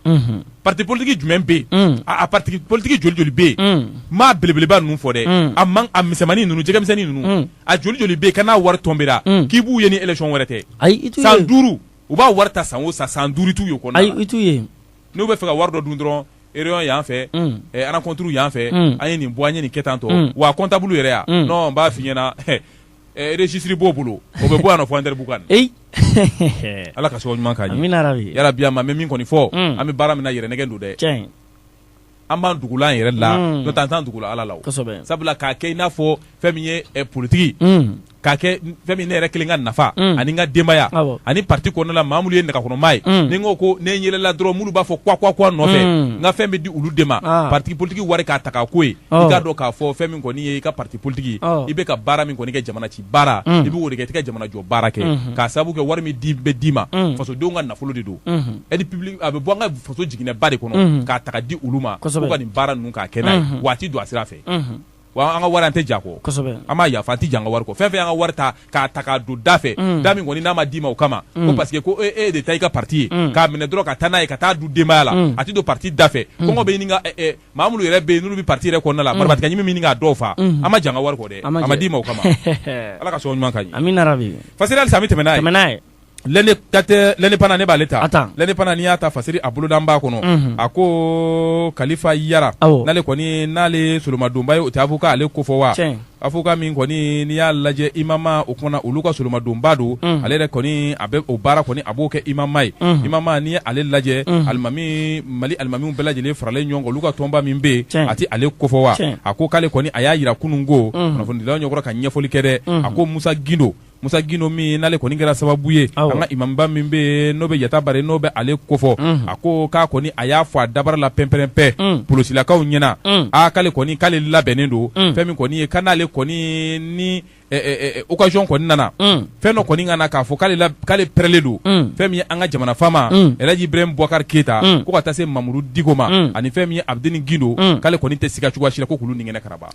pati politigi jumɛn bɛ yen a pati politigi joli joli bɛ yen n m'a belebeleba ninnu fɔ dɛ a man a misɛnmannin ninnu jɛgɛmisɛnnin ninnu a joli joli bɛ yen ka n'a wari tɔnbila k'i b'u ye ni élection wɛrɛ tɛ ayi san duuru u b'a wari ta san o san san duuru i t'u ye o kɔnɔ ayi i t'u ye n'u bɛ fɛ ka wari dɔ dun dɔrɔn réunion yan fɛ rencontre yan fɛ an ye nin bɔ an ye nin kɛ tan tɔ wa comptable yɛrɛ yan n b'a f'i ɲɛna registre b'o bolo o bɛ bɔ yan fo Anderanbukan ala k'an son ɲuman na yarabi amiina min kɔni fɔ an bɛ baara min na yɛrɛ nɛgɛ don dɛ an b'an dugu an yɛrɛ la n'o tɛ an t'an dugu ala la sabula k'a kɛ i n'a fɔ fɛn min ye politigi k'a kɛ fɛn min ne yɛrɛ kelen ka nafa ani n ka denbaya ani pati kɔnɔna la maa minnu ye ne kɔkɔrɔmaa ye ni n ko ne yɛlɛla dɔrɔn minnu b'a fɔ kuwa nɔfɛ n ka fɛn bɛ di olu de ma pati politigi wari k'a ta' ko i k'a dɔn k'a fɔ fɛn min kɔni ye i ka parti politique i bɛ ka baara min kɔni kɛ jamana ci baara i bɛ o de kɛ i tɛ ka jamana jɔ baara kɛ k'a sababu kɛ wari min bɛ d'i ma fasodenw ka nafolo de don aide publique a bɛ bɔ an ka faso jiginɛba de kɔnɔ k'a ta ka di olu ma k'u ka nin baara ninnu k'a kɛ n'a ye wa a tɛ don a sira fɛ wa an ka wari an tɛ j'a kɔ an b'a yafa an tɛ j'an ka wari kɔ fɛn fɛn y'an ka wari ta k'a ta k'a don da fɛ da min kɔni n'a ma d'i ma o kama ko parce que ko e e de ta i ka parti ye k'a minɛ dɔrɔn ka taa n'a ye ka taa dun denbaya la a tɛ don parti da fɛ kɔngɔ bɛ ɲini ka maa minnu yɛrɛ bɛ yen n'olu bɛ pati yɛrɛ kɔnɔna la marabatiga ɲimi ɲini k'a dɔw faa an ma j'an ka wari kɔ dɛ a ma d'i ma o kama ala ka sɔn ɲuman ka ɲi fasiri halisa an bɛ tɛmɛ n'a ye L'Indépendant ne b'ale ta L'Indépendant n'i y'a ta fasiri a boloda b'a kɔnɔ a ko kalifa yaro ale kɔni n'ale solomadonba ye o tɛ avocat ale ko fɔ wa Avocat min kɔni n'i y'a lajɛ IMAMA o kumana olu ka solomadonba don ale yɛrɛ kɔni a bɛ o baara kɔni a b'o kɛ IMAMA ye IMAMA n'i ye ale lajɛ alimami mali alimamiw bɛɛ lajɛlen faralen ɲɔgɔn kan olu ka tɔnba min bɛ yen a tɛ ale kofɔ wa a ko k'ale kɔni a y'a yira kunun ko kunnafonidilaw ɲɛkɔrɔ ka ɲɛfɔlikɛ dɛ a ko musa gindo musa gindo min n'ale kɔni kɛra sababu ye an ka imamba min bɛ yen n'o bɛ yatabare n'o bɛ ale kofɔ a ko k'a kɔni a y'a fɔ a dabara la pɛnpɛrɛnpɛ polosilakaw ɲɛna aa k'ale kɔni k'ale labɛnnen don fɛn min kɔni ye ka n'ale kɔni ni occasion kɔni nana fɛn dɔ kɔni ka na k'a fɔ k'ale pɛrɛlen don fɛn min ye an ka jamana faama Elhaji Ibrahim Boubacar Keita ko ka taa se mamudu diko ma ani fɛn min ye abidini gindo k'ale kɔni tɛ siga cogoya si la ko k'olu ni kɛnɛ karaba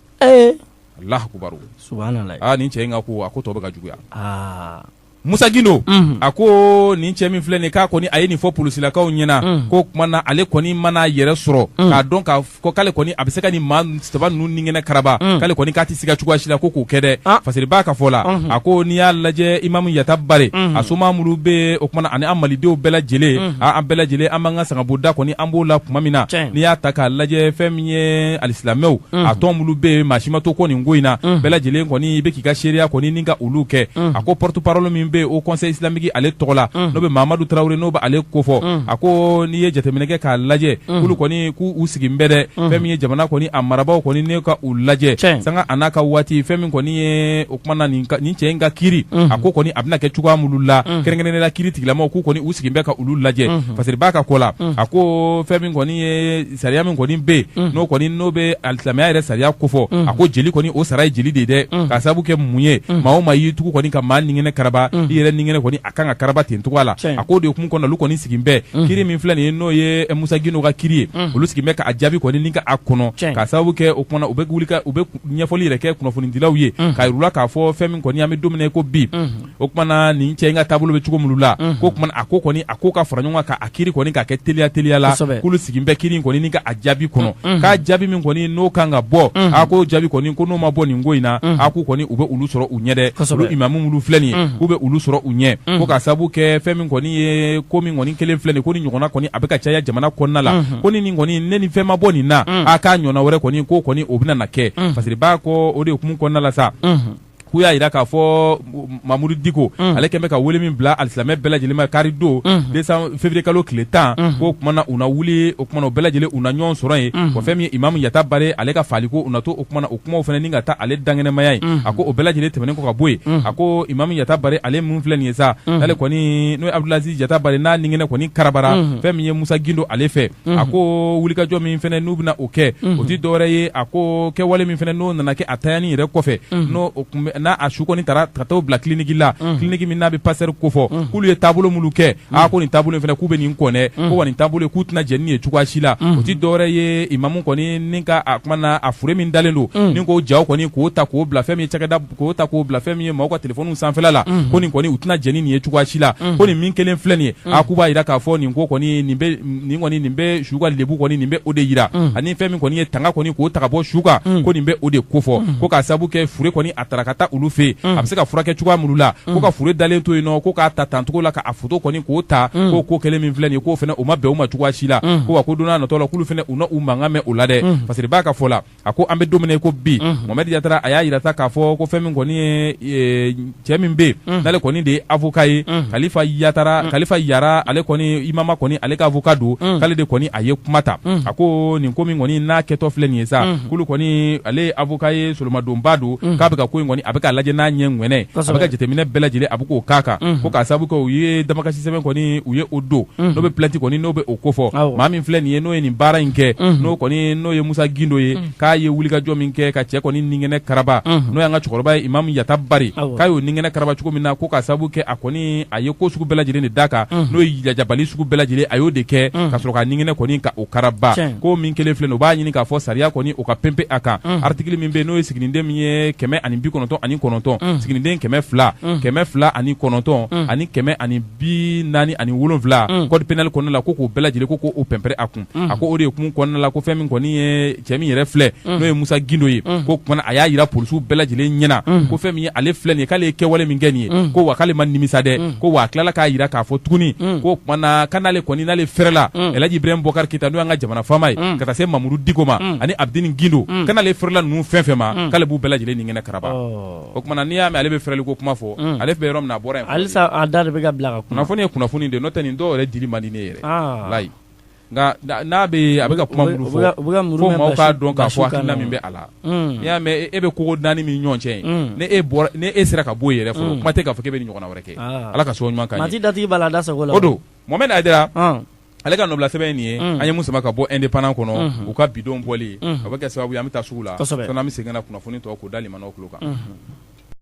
alahu akubaru subahanalahi aa nin cɛ in ka ko a ko tɔ bɛ ka juguya aa Musa Gindo unhun a koo nin cɛ min filɛ nin ye k'a kɔni a ye nin fɔ polisilakaw ɲɛna unhun k'o tuma na ale kɔni mana a yɛrɛ sɔrɔ unhun k'a dɔn k'a fɔ ko k'ale kɔni a bɛ se ka nin maa saba ninnu ninkɛnɛ karaba unhun k'ale kɔni k'a tɛ siga cogoya si la ko k'o kɛ dɛ ah fasiri b'a ka fɔ la unhun a ko n'i y'a lajɛ Imam Yatabare unhun a somaa minnu bɛ yen o tuma na ani an Malidenw bɛɛ lajɛlen unhun aa an bɛɛ lajɛlen an b'an ka sangabonda kɔni an b'o la tuma min na tiɲɛ n'i y'a ta k'a lajɛ fɛn min ye alisilamɛw mm. a tɔn minnu bɛ yen maa si ma to kɔ nin ko in na mm. bɛɛ lajɛlen kɔni i bɛ k'i ka seereya kɔni ni ka olu kɛ mm. a ko porte parole min bɛ yen haut conseil islamique ale tɔgɔ la n'o bɛ mamadu tarawele n'o bɛ ale ko fɔ a ko n'i ye jateminɛ kɛ k'a lajɛ k'olu kɔni k'u sigin bɛ dɛ fɛn min ye jamana kɔni a marabaaw kɔni ni ka u lajɛ sanga a n'a ka waati fɛn min kɔni ye o tuma na nin cɛ in ka kiri a ko kɔni a bɛna kɛ cogoya minnu la kɛrɛnkɛrɛnnenya la kiritigɛlamɔgɔw k'u kɔni u sigilen bɛ ka olu lajɛ fasiri b'a ka ko la a ko fɛn min kɔni ye sariya min kɔni bɛ yen n'o kɔni n'o bɛ alisilamɛya yɛrɛ sariya kofɔ a ko jeli kɔni o sara ye jeli de ye dɛ k'a sababu kɛ mun ye maa o maa y'i tugu kɔni ka maa ninkɛnɛ karaba i yɛrɛ ninkɛnɛ kɔni a kan ka karaba ten cogoya la a k'o de hukumu kɔnɔna olu kɔni sigilen bɛ kiri min filɛ nin ye n'o ye Musa Gindo ka kiri ye olu sigilen bɛ k'a jaabi kɔni ni ka a kɔnɔ k'a sababu kɛ o kumana u bɛ wuli ka u bɛ ɲɛfɔli yɛrɛ kɛ kunnafonidilaw ye k'a yir'u la k'a fɔ fɛn min kɔni an bɛ don min na i ko bi o kumana nin cɛ in ka taabolo bɛ cogo minnu la ko o kumana a ko kɔni a ko ka fara ɲɔgɔn kan k'a kiri kɔni k'a kɛ teliya teliya la k'olu sigilen bɛ kiri kɔni ka a jaabi kɔnɔ k'a jaabi min kɔni n'o kan ka bɔ a ko jaabi kɔni ko n'o ma bɔ nin ko in na a ko kɔni u bɛ olu sɔrɔ u ɲɛ dɛ olu imamu minnu filɛ nin ye k'u bɛ olu sɔrɔ u ɲɛ ko ka sababu kɛ fɛn min kɔni ye ko min kɔni kɛlen filɛ nin ko ni ɲɔgɔnna kɔni a bɛ ka caya jamana kɔnɔna la ko ni nin kɔni ne ni fɛn ma bɔ nin na a k'a ɲɔgɔnna wɛrɛ kɔni ko kɔni o bɛna na kɛ parce que b'a ko o de hukumu kɔnɔna la sa k'u y'a yira k'a fɔ mamudu diko mm. ale kɛlen bɛ ka wele min bila alisilamɛ bɛɛ lajɛlen ma kari don mm. desan fevrier kalo tile tan mm. k'o kumana u na wuli o kumana o bɛɛ lajɛlen u na ɲɔgɔn sɔrɔ yen ko fɛn min ye imamu yatabare ale ka faliko u na to o kumana o kumaw fana ni ka taa ale dankɛnɛmaya ye a ko o bɛɛ lajɛlen tɛmɛnen kɔ ka bɔ yen a ko imamu yatabare ale mun filɛ nin ye sa n'ale kɔni n'o ye abdulaziz yatabare n'a ninkɛnɛ kɔni karabara fɛn min ye musa gindo ale fɛ a ko wulikajɔ min fana n'u bɛna o kɛ o tɛ dɔwɛrɛ ye a ko kɛwale min fana n'o nana kɛ a tayani yɛrɛ kɔfɛ n'a a su kɔni tara ka t'a bila kiliniki la kiliniki min n'a bɛ pasteur ko fɔ k'olu ye taabolo minnu kɛ a ko nin taabolo in fana k'u bɛ nin kɔn dɛ ko wa nin taabolo in k'u tɛna jɛn ni ye cogoya si la o tɛ dɔwɛrɛ ye imamu kɔni ni ka a kuma na a fure min dalen don ni k'o jaw kɔni k'o ta k'o bila fɛn min ye cakɛda k'o ta k'o bila fɛn min ye maaw ka telefɔniw sanfɛla la ko nin kɔni u tɛna jɛn ni nin ye cogoya si la ko nin min kɛlen filɛ nin ye a k'u b'a yira k'a fɔ nin ko kɔni nin bɛ nin kɔni nin bɛ su ka lebu kɔni nin bɛ o de yira ani fɛn min kɔni ye tanga kɔni k'o ta ka bɔ su kan ko nin bɛ o de ko fɔ ko k'a sababu kɛ fure kɔni a tara ka taa olu fɛ yen a bɛ se ka furakɛ cogoya minnu la ko ka fure dalen to yen nɔ ko k'a ta tan cogo la k'a foto kɔni k'o ta k'o ko kɛlen min filɛ nin ye k'o fana o ma bɛn u ma cogoya si la ko wa ko don nataw la k'olu fana u na u mankan mɛn o la dɛ parce que b'a ka fɔ la a ko an bɛ don min na ko bi mohamed yatara a y'a yira sa k'a fɔ ko fɛn min kɔni ye cɛ min bɛ n'ale kɔni de ye avoka ye kalifa yatara kalifa yara ale kɔni imamu kɔni ale ka avoka don k'ale de kɔni a ye kuma ta a ko nin ko min kɔni n'a kɛtɔ filɛ nin ye sa k'ale kɔni ale ye avoka ye solomadonbaa don k'a bɛ ka ko in kɔni a bɛ ka lajɛ n'a ɲɛ kɛnɛ a bɛ ka jateminɛ bɛɛ lajɛlen a bɛ k'o k'a kan ko k'a sababu kɛ u ye damakasi sɛbɛn kɔni u ye o don n'o bɛ plainte kɔni n'o bɛ o ko fɔ filɛ nin ye n'o ye nin baara in kɛ n'o kɔni n'o ye musa gindo ye k'a ye wulikajɔ min kɛ ka cɛ kɔni ninkɛnɛ karaba n'o y'an ka cɛkɔrɔba ye imamu yatabare k'a y'o ninkɛnɛ karaba cogo min na ko ka sabu kɛ a kɔni a ye ko sugu bɛɛ lajɛlen de d'a kan n'o ye lajabali sugu bɛɛ lajɛlen a y'o de kɛ ka sɔrɔ k'a ninkɛnɛ kɔni ka o karaba ko min kɛlen filɛ nin u b'a ɲini k'a fɔ sariya kɔni o ka pɛnpɛ a kan artikili min bɛ n'o ye siginiden min ye kɛmɛ ani bi kɔnɔntɔn ani kɔnɔntɔn siginiden kɛmɛ fila kɛmɛ fila ani kɔnɔntɔn ani kɛmɛ ani bi naani ani wolonwula mm. code pénal kɔnɔna la ko k'o bɛɛ lajɛlen ko k'o pɛnpɛrɛ a kun mm. a ko o de hukumu kɔnɔna la ko fɛn min kɔni ye cɛ min yɛrɛ filɛ mm. n'o ye musa gindo ye mm. ko kumana a y'a yira polisiw bɛɛ lajɛlen ɲɛna mm. ko fɛn min ye ale filɛ nin ye k'ale ye kɛwale min kɛ nin ye mm. ko wa k'ale ma nimisa dɛ mm. ko wa a tilala k'a yira k'a fɔ tuguni mm. ko kumana ka n'ale kɔni n'ale fɛrɛla mm. elaji ibrahim bɔkari keyita n'o y'an ka jamana faama ye mm. ka taa se mamudu diko ma mm. ani abdini gindo mm. ka n'ale fɛrɛla ninnu fɛn o fɛn ma mm. k'ale b'u bɛɛ lajɛlen nin kɛnɛ karaba oh. o tuma na n'i y'a mɛn ale bɛ feereli ko kuma fɔ ale bɛ yɔrɔ min na a bɔra halisa da de bɛ ka bila kunnafoni ye kunnafoni de n'o tɛ nin dɔw yɛrɛ dili man di ne yɛrɛ layi nka n'a a bɛ ka kuma minnu fɔ fo maa k'a dɔn k'a fɔ hakilina min bɛ a la n'i y'a mɛn e bɛ kogo naani min ɲɔgɔn cɛ ni e sera ka bɔ yen yɛrɛ fɔ kuma tɛ k'a fɔ k'e bɛ nin ɲɔgɔnna wɛrɛ kɛ ala ka so ɲuman kan di dati b'a la da sago don mohamed aidara ale ka nɔbila sɛbɛn nin ye an ye min sama ka bɔ indépendant kɔnɔ u ka bi don bɔli a bɛ kɛ sababu an bɛ taa sugu la an bɛ segin ka kunnafoni tɔ k'u da nin o kan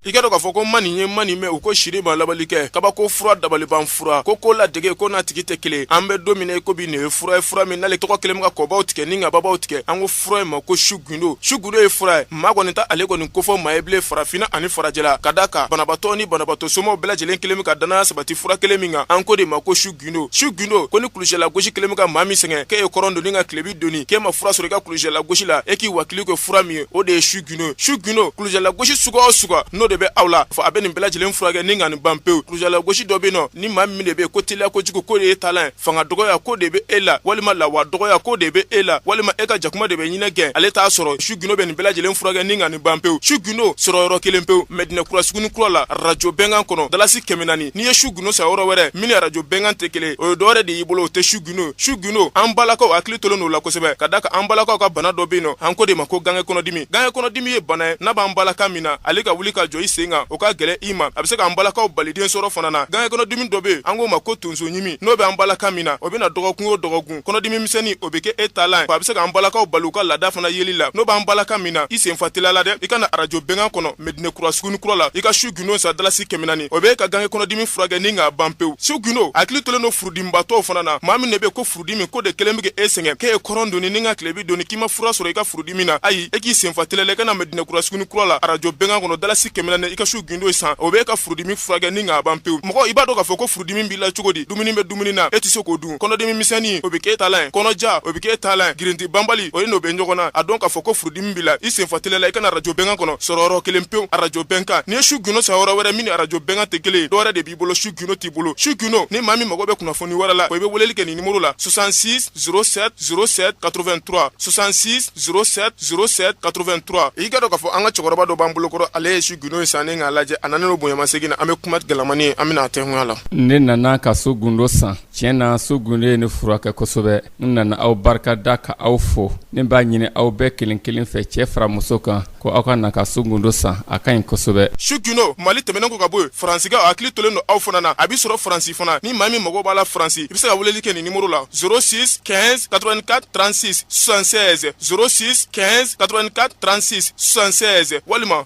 i k'a dɔn k'a fɔ ko man nin ye man nin mɛn u ko siri ma labali kɛ kabako fura dabaliban fura ko ko ladege ko n'a tigi tɛ kelen an bɛ don min na ko bi nin ye fura ye fura min n'ale tɔgɔ kelen ka kɔbaw tigɛ ni ka babaw tigɛ an ko fura in ma ko su gundo su gundo ye fura ye maa kɔni ta ale kɔni kofɔ maa ye bilen farafinna ani farajɛla ka da a kan banabatɔ ni banabagatɔ somaw bɛɛ lajɛlen kelen ka danaya sabati fura kelen min kan an ko de ma ko su gundo su gundo ko ni kulusijala gosi kɛlen bɛ ka maa min sɛgɛn k'e ye kɔrɔn doni ka tilebin doni k'e ma fura sɔrɔ i ka kulusijala gosi la e k'i wakili kɛ fura min ye o de ye su gundo su gundo kulusijala gosi suguya o suguya n'o de bɛ aw la fɔ a bɛ nin bɛɛ lajɛlen furakɛ ni ka nin ban pewu kulusijala gosi dɔ bɛ yen nɔ ni maa min de bɛ yen ko teliya kojugu k'o de y'e taalan ye fanga dɔgɔya k'o de bɛ e la walima lawa dɔgɔya k'o de bɛ e la walima e ka jakuma de bɛ ɲinɛ gɛn ale t'a sɔrɔ su gundo bɛ nin bɛɛ lajɛlen furakɛ ni ka nin ban pewu su gundo sɔrɔ yɔrɔ kelen pewu mɛdinɛ kura suguni kura la arajo bɛnkan kɔnɔ dalasi kɛmɛ naani n'i ye su gundo san yɔrɔ wɛrɛ min ni arajo bɛnkan tɛ kelen o ye dɔwɛrɛ de y'i bolo o tɛ su gundo su gundo an balakaw hakili tolen don u la kosɛbɛ ka da a kan an balakaw ka bana dɔ bɛ yen nɔ an ko de ma ko gange kɔnɔdimi gange kɔnɔdimi ye bana ye n'a b'an balaka min na ale ka wuli ka jɔ i sen kan o ka gɛlɛn i ma a bɛ se k'an balakaw bali den sɔrɔ fana na gange kɔnɔdimi dɔ bɛ yen an k'o ma ko tonso ɲimi n'o bɛ an balaka min na o bɛ na dɔgɔkun o dɔgɔkun kɔnɔdimi misɛnnin o bɛ kɛ e talan ye a bɛ se k'an balakaw bali u ka laada fana yeli la n'o b'an balaka min na i sen fa teliya la dɛ i ka na arajo bɛnkan kɔnɔ mɛdinɛkura sugunikura la i ka su gundo san dalasi kɛmɛ naani o bɛ ka gange kɔnɔdimi furakɛ ni k'a ban pewu su gundo hakili tolen don furudimibatɔw fana na maa min de bɛ ko furudimi ko de kɛlen bɛ k'e sɛgɛn k'e ye kɔrɔn doni ni ka tilebin doni k'i ma fura sɔrɔ i ka furudimi na ayi e k'i sen fa teliya la i ka na mɛdinɛ kura suguni kura la arajo bɛnkan kɔnɔ dalasi kɛmɛ naani i ka su gundo san o bɛ ka furudimi furakɛ ni k'a ban pewu mɔgɔ i b'a dɔn k'a fɔ ko furudimi b'i la cogo di dumuni bɛ dumuni na e tɛ se k'o dun kɔnɔdimi misɛnnin o bɛ k'e talan ye kɔnɔja o bɛ k'e talan ye girinti banbali o ye n'o bɛ ɲɔgɔnna a dɔn k'a fɔ ko furudimi b'i la i sen fa teliya la i ka na arajo bɛnkan kɔnɔ sɔrɔ yɔrɔ kelen pewu arajo bɛnkan n'i ye su gundo san yɔrɔ wɛrɛ min ni arajo bɛnkan tɛ kelen ye dɔ wɛrɛ de b'i bolo su gundo t'i bolo su gundo ni maa min mago bɛ kunnafoni wɛrɛ la o i bɛ weleli kɛ nin nimoro la 66 07 07 83 66 07 07 83 i k'a dɔn k'a fɔ an ka cɛkɔrɔba dɔ b'an bolokɔrɔ ale ye su gundo in san ni k'a lajɛ a nanen don bonyamasegin na an bɛ kuma galamani ye an bɛna a tɛnkunya la ne nana ka su gundo san tiɲɛ na su gundo ye ne furakɛ kosɛbɛ n nana aw barika da ka aw fo ne b'a ɲini aw bɛɛ kelen kelen fɛ cɛɛ fara muso kan ko aw ka na ka su gundo san a ka ɲi kosɛbɛ su gundo mali tɛmɛnen kɔ ka bɔ yen faransikaw a hakili tolen don aw fana na a bɛ sɔrɔ faransi fana ni maa min mago b'a la faransi i bɛ se ka weleli kɛ nin nimoro la 06 15 84 36 76 06 15 84 36 76 walima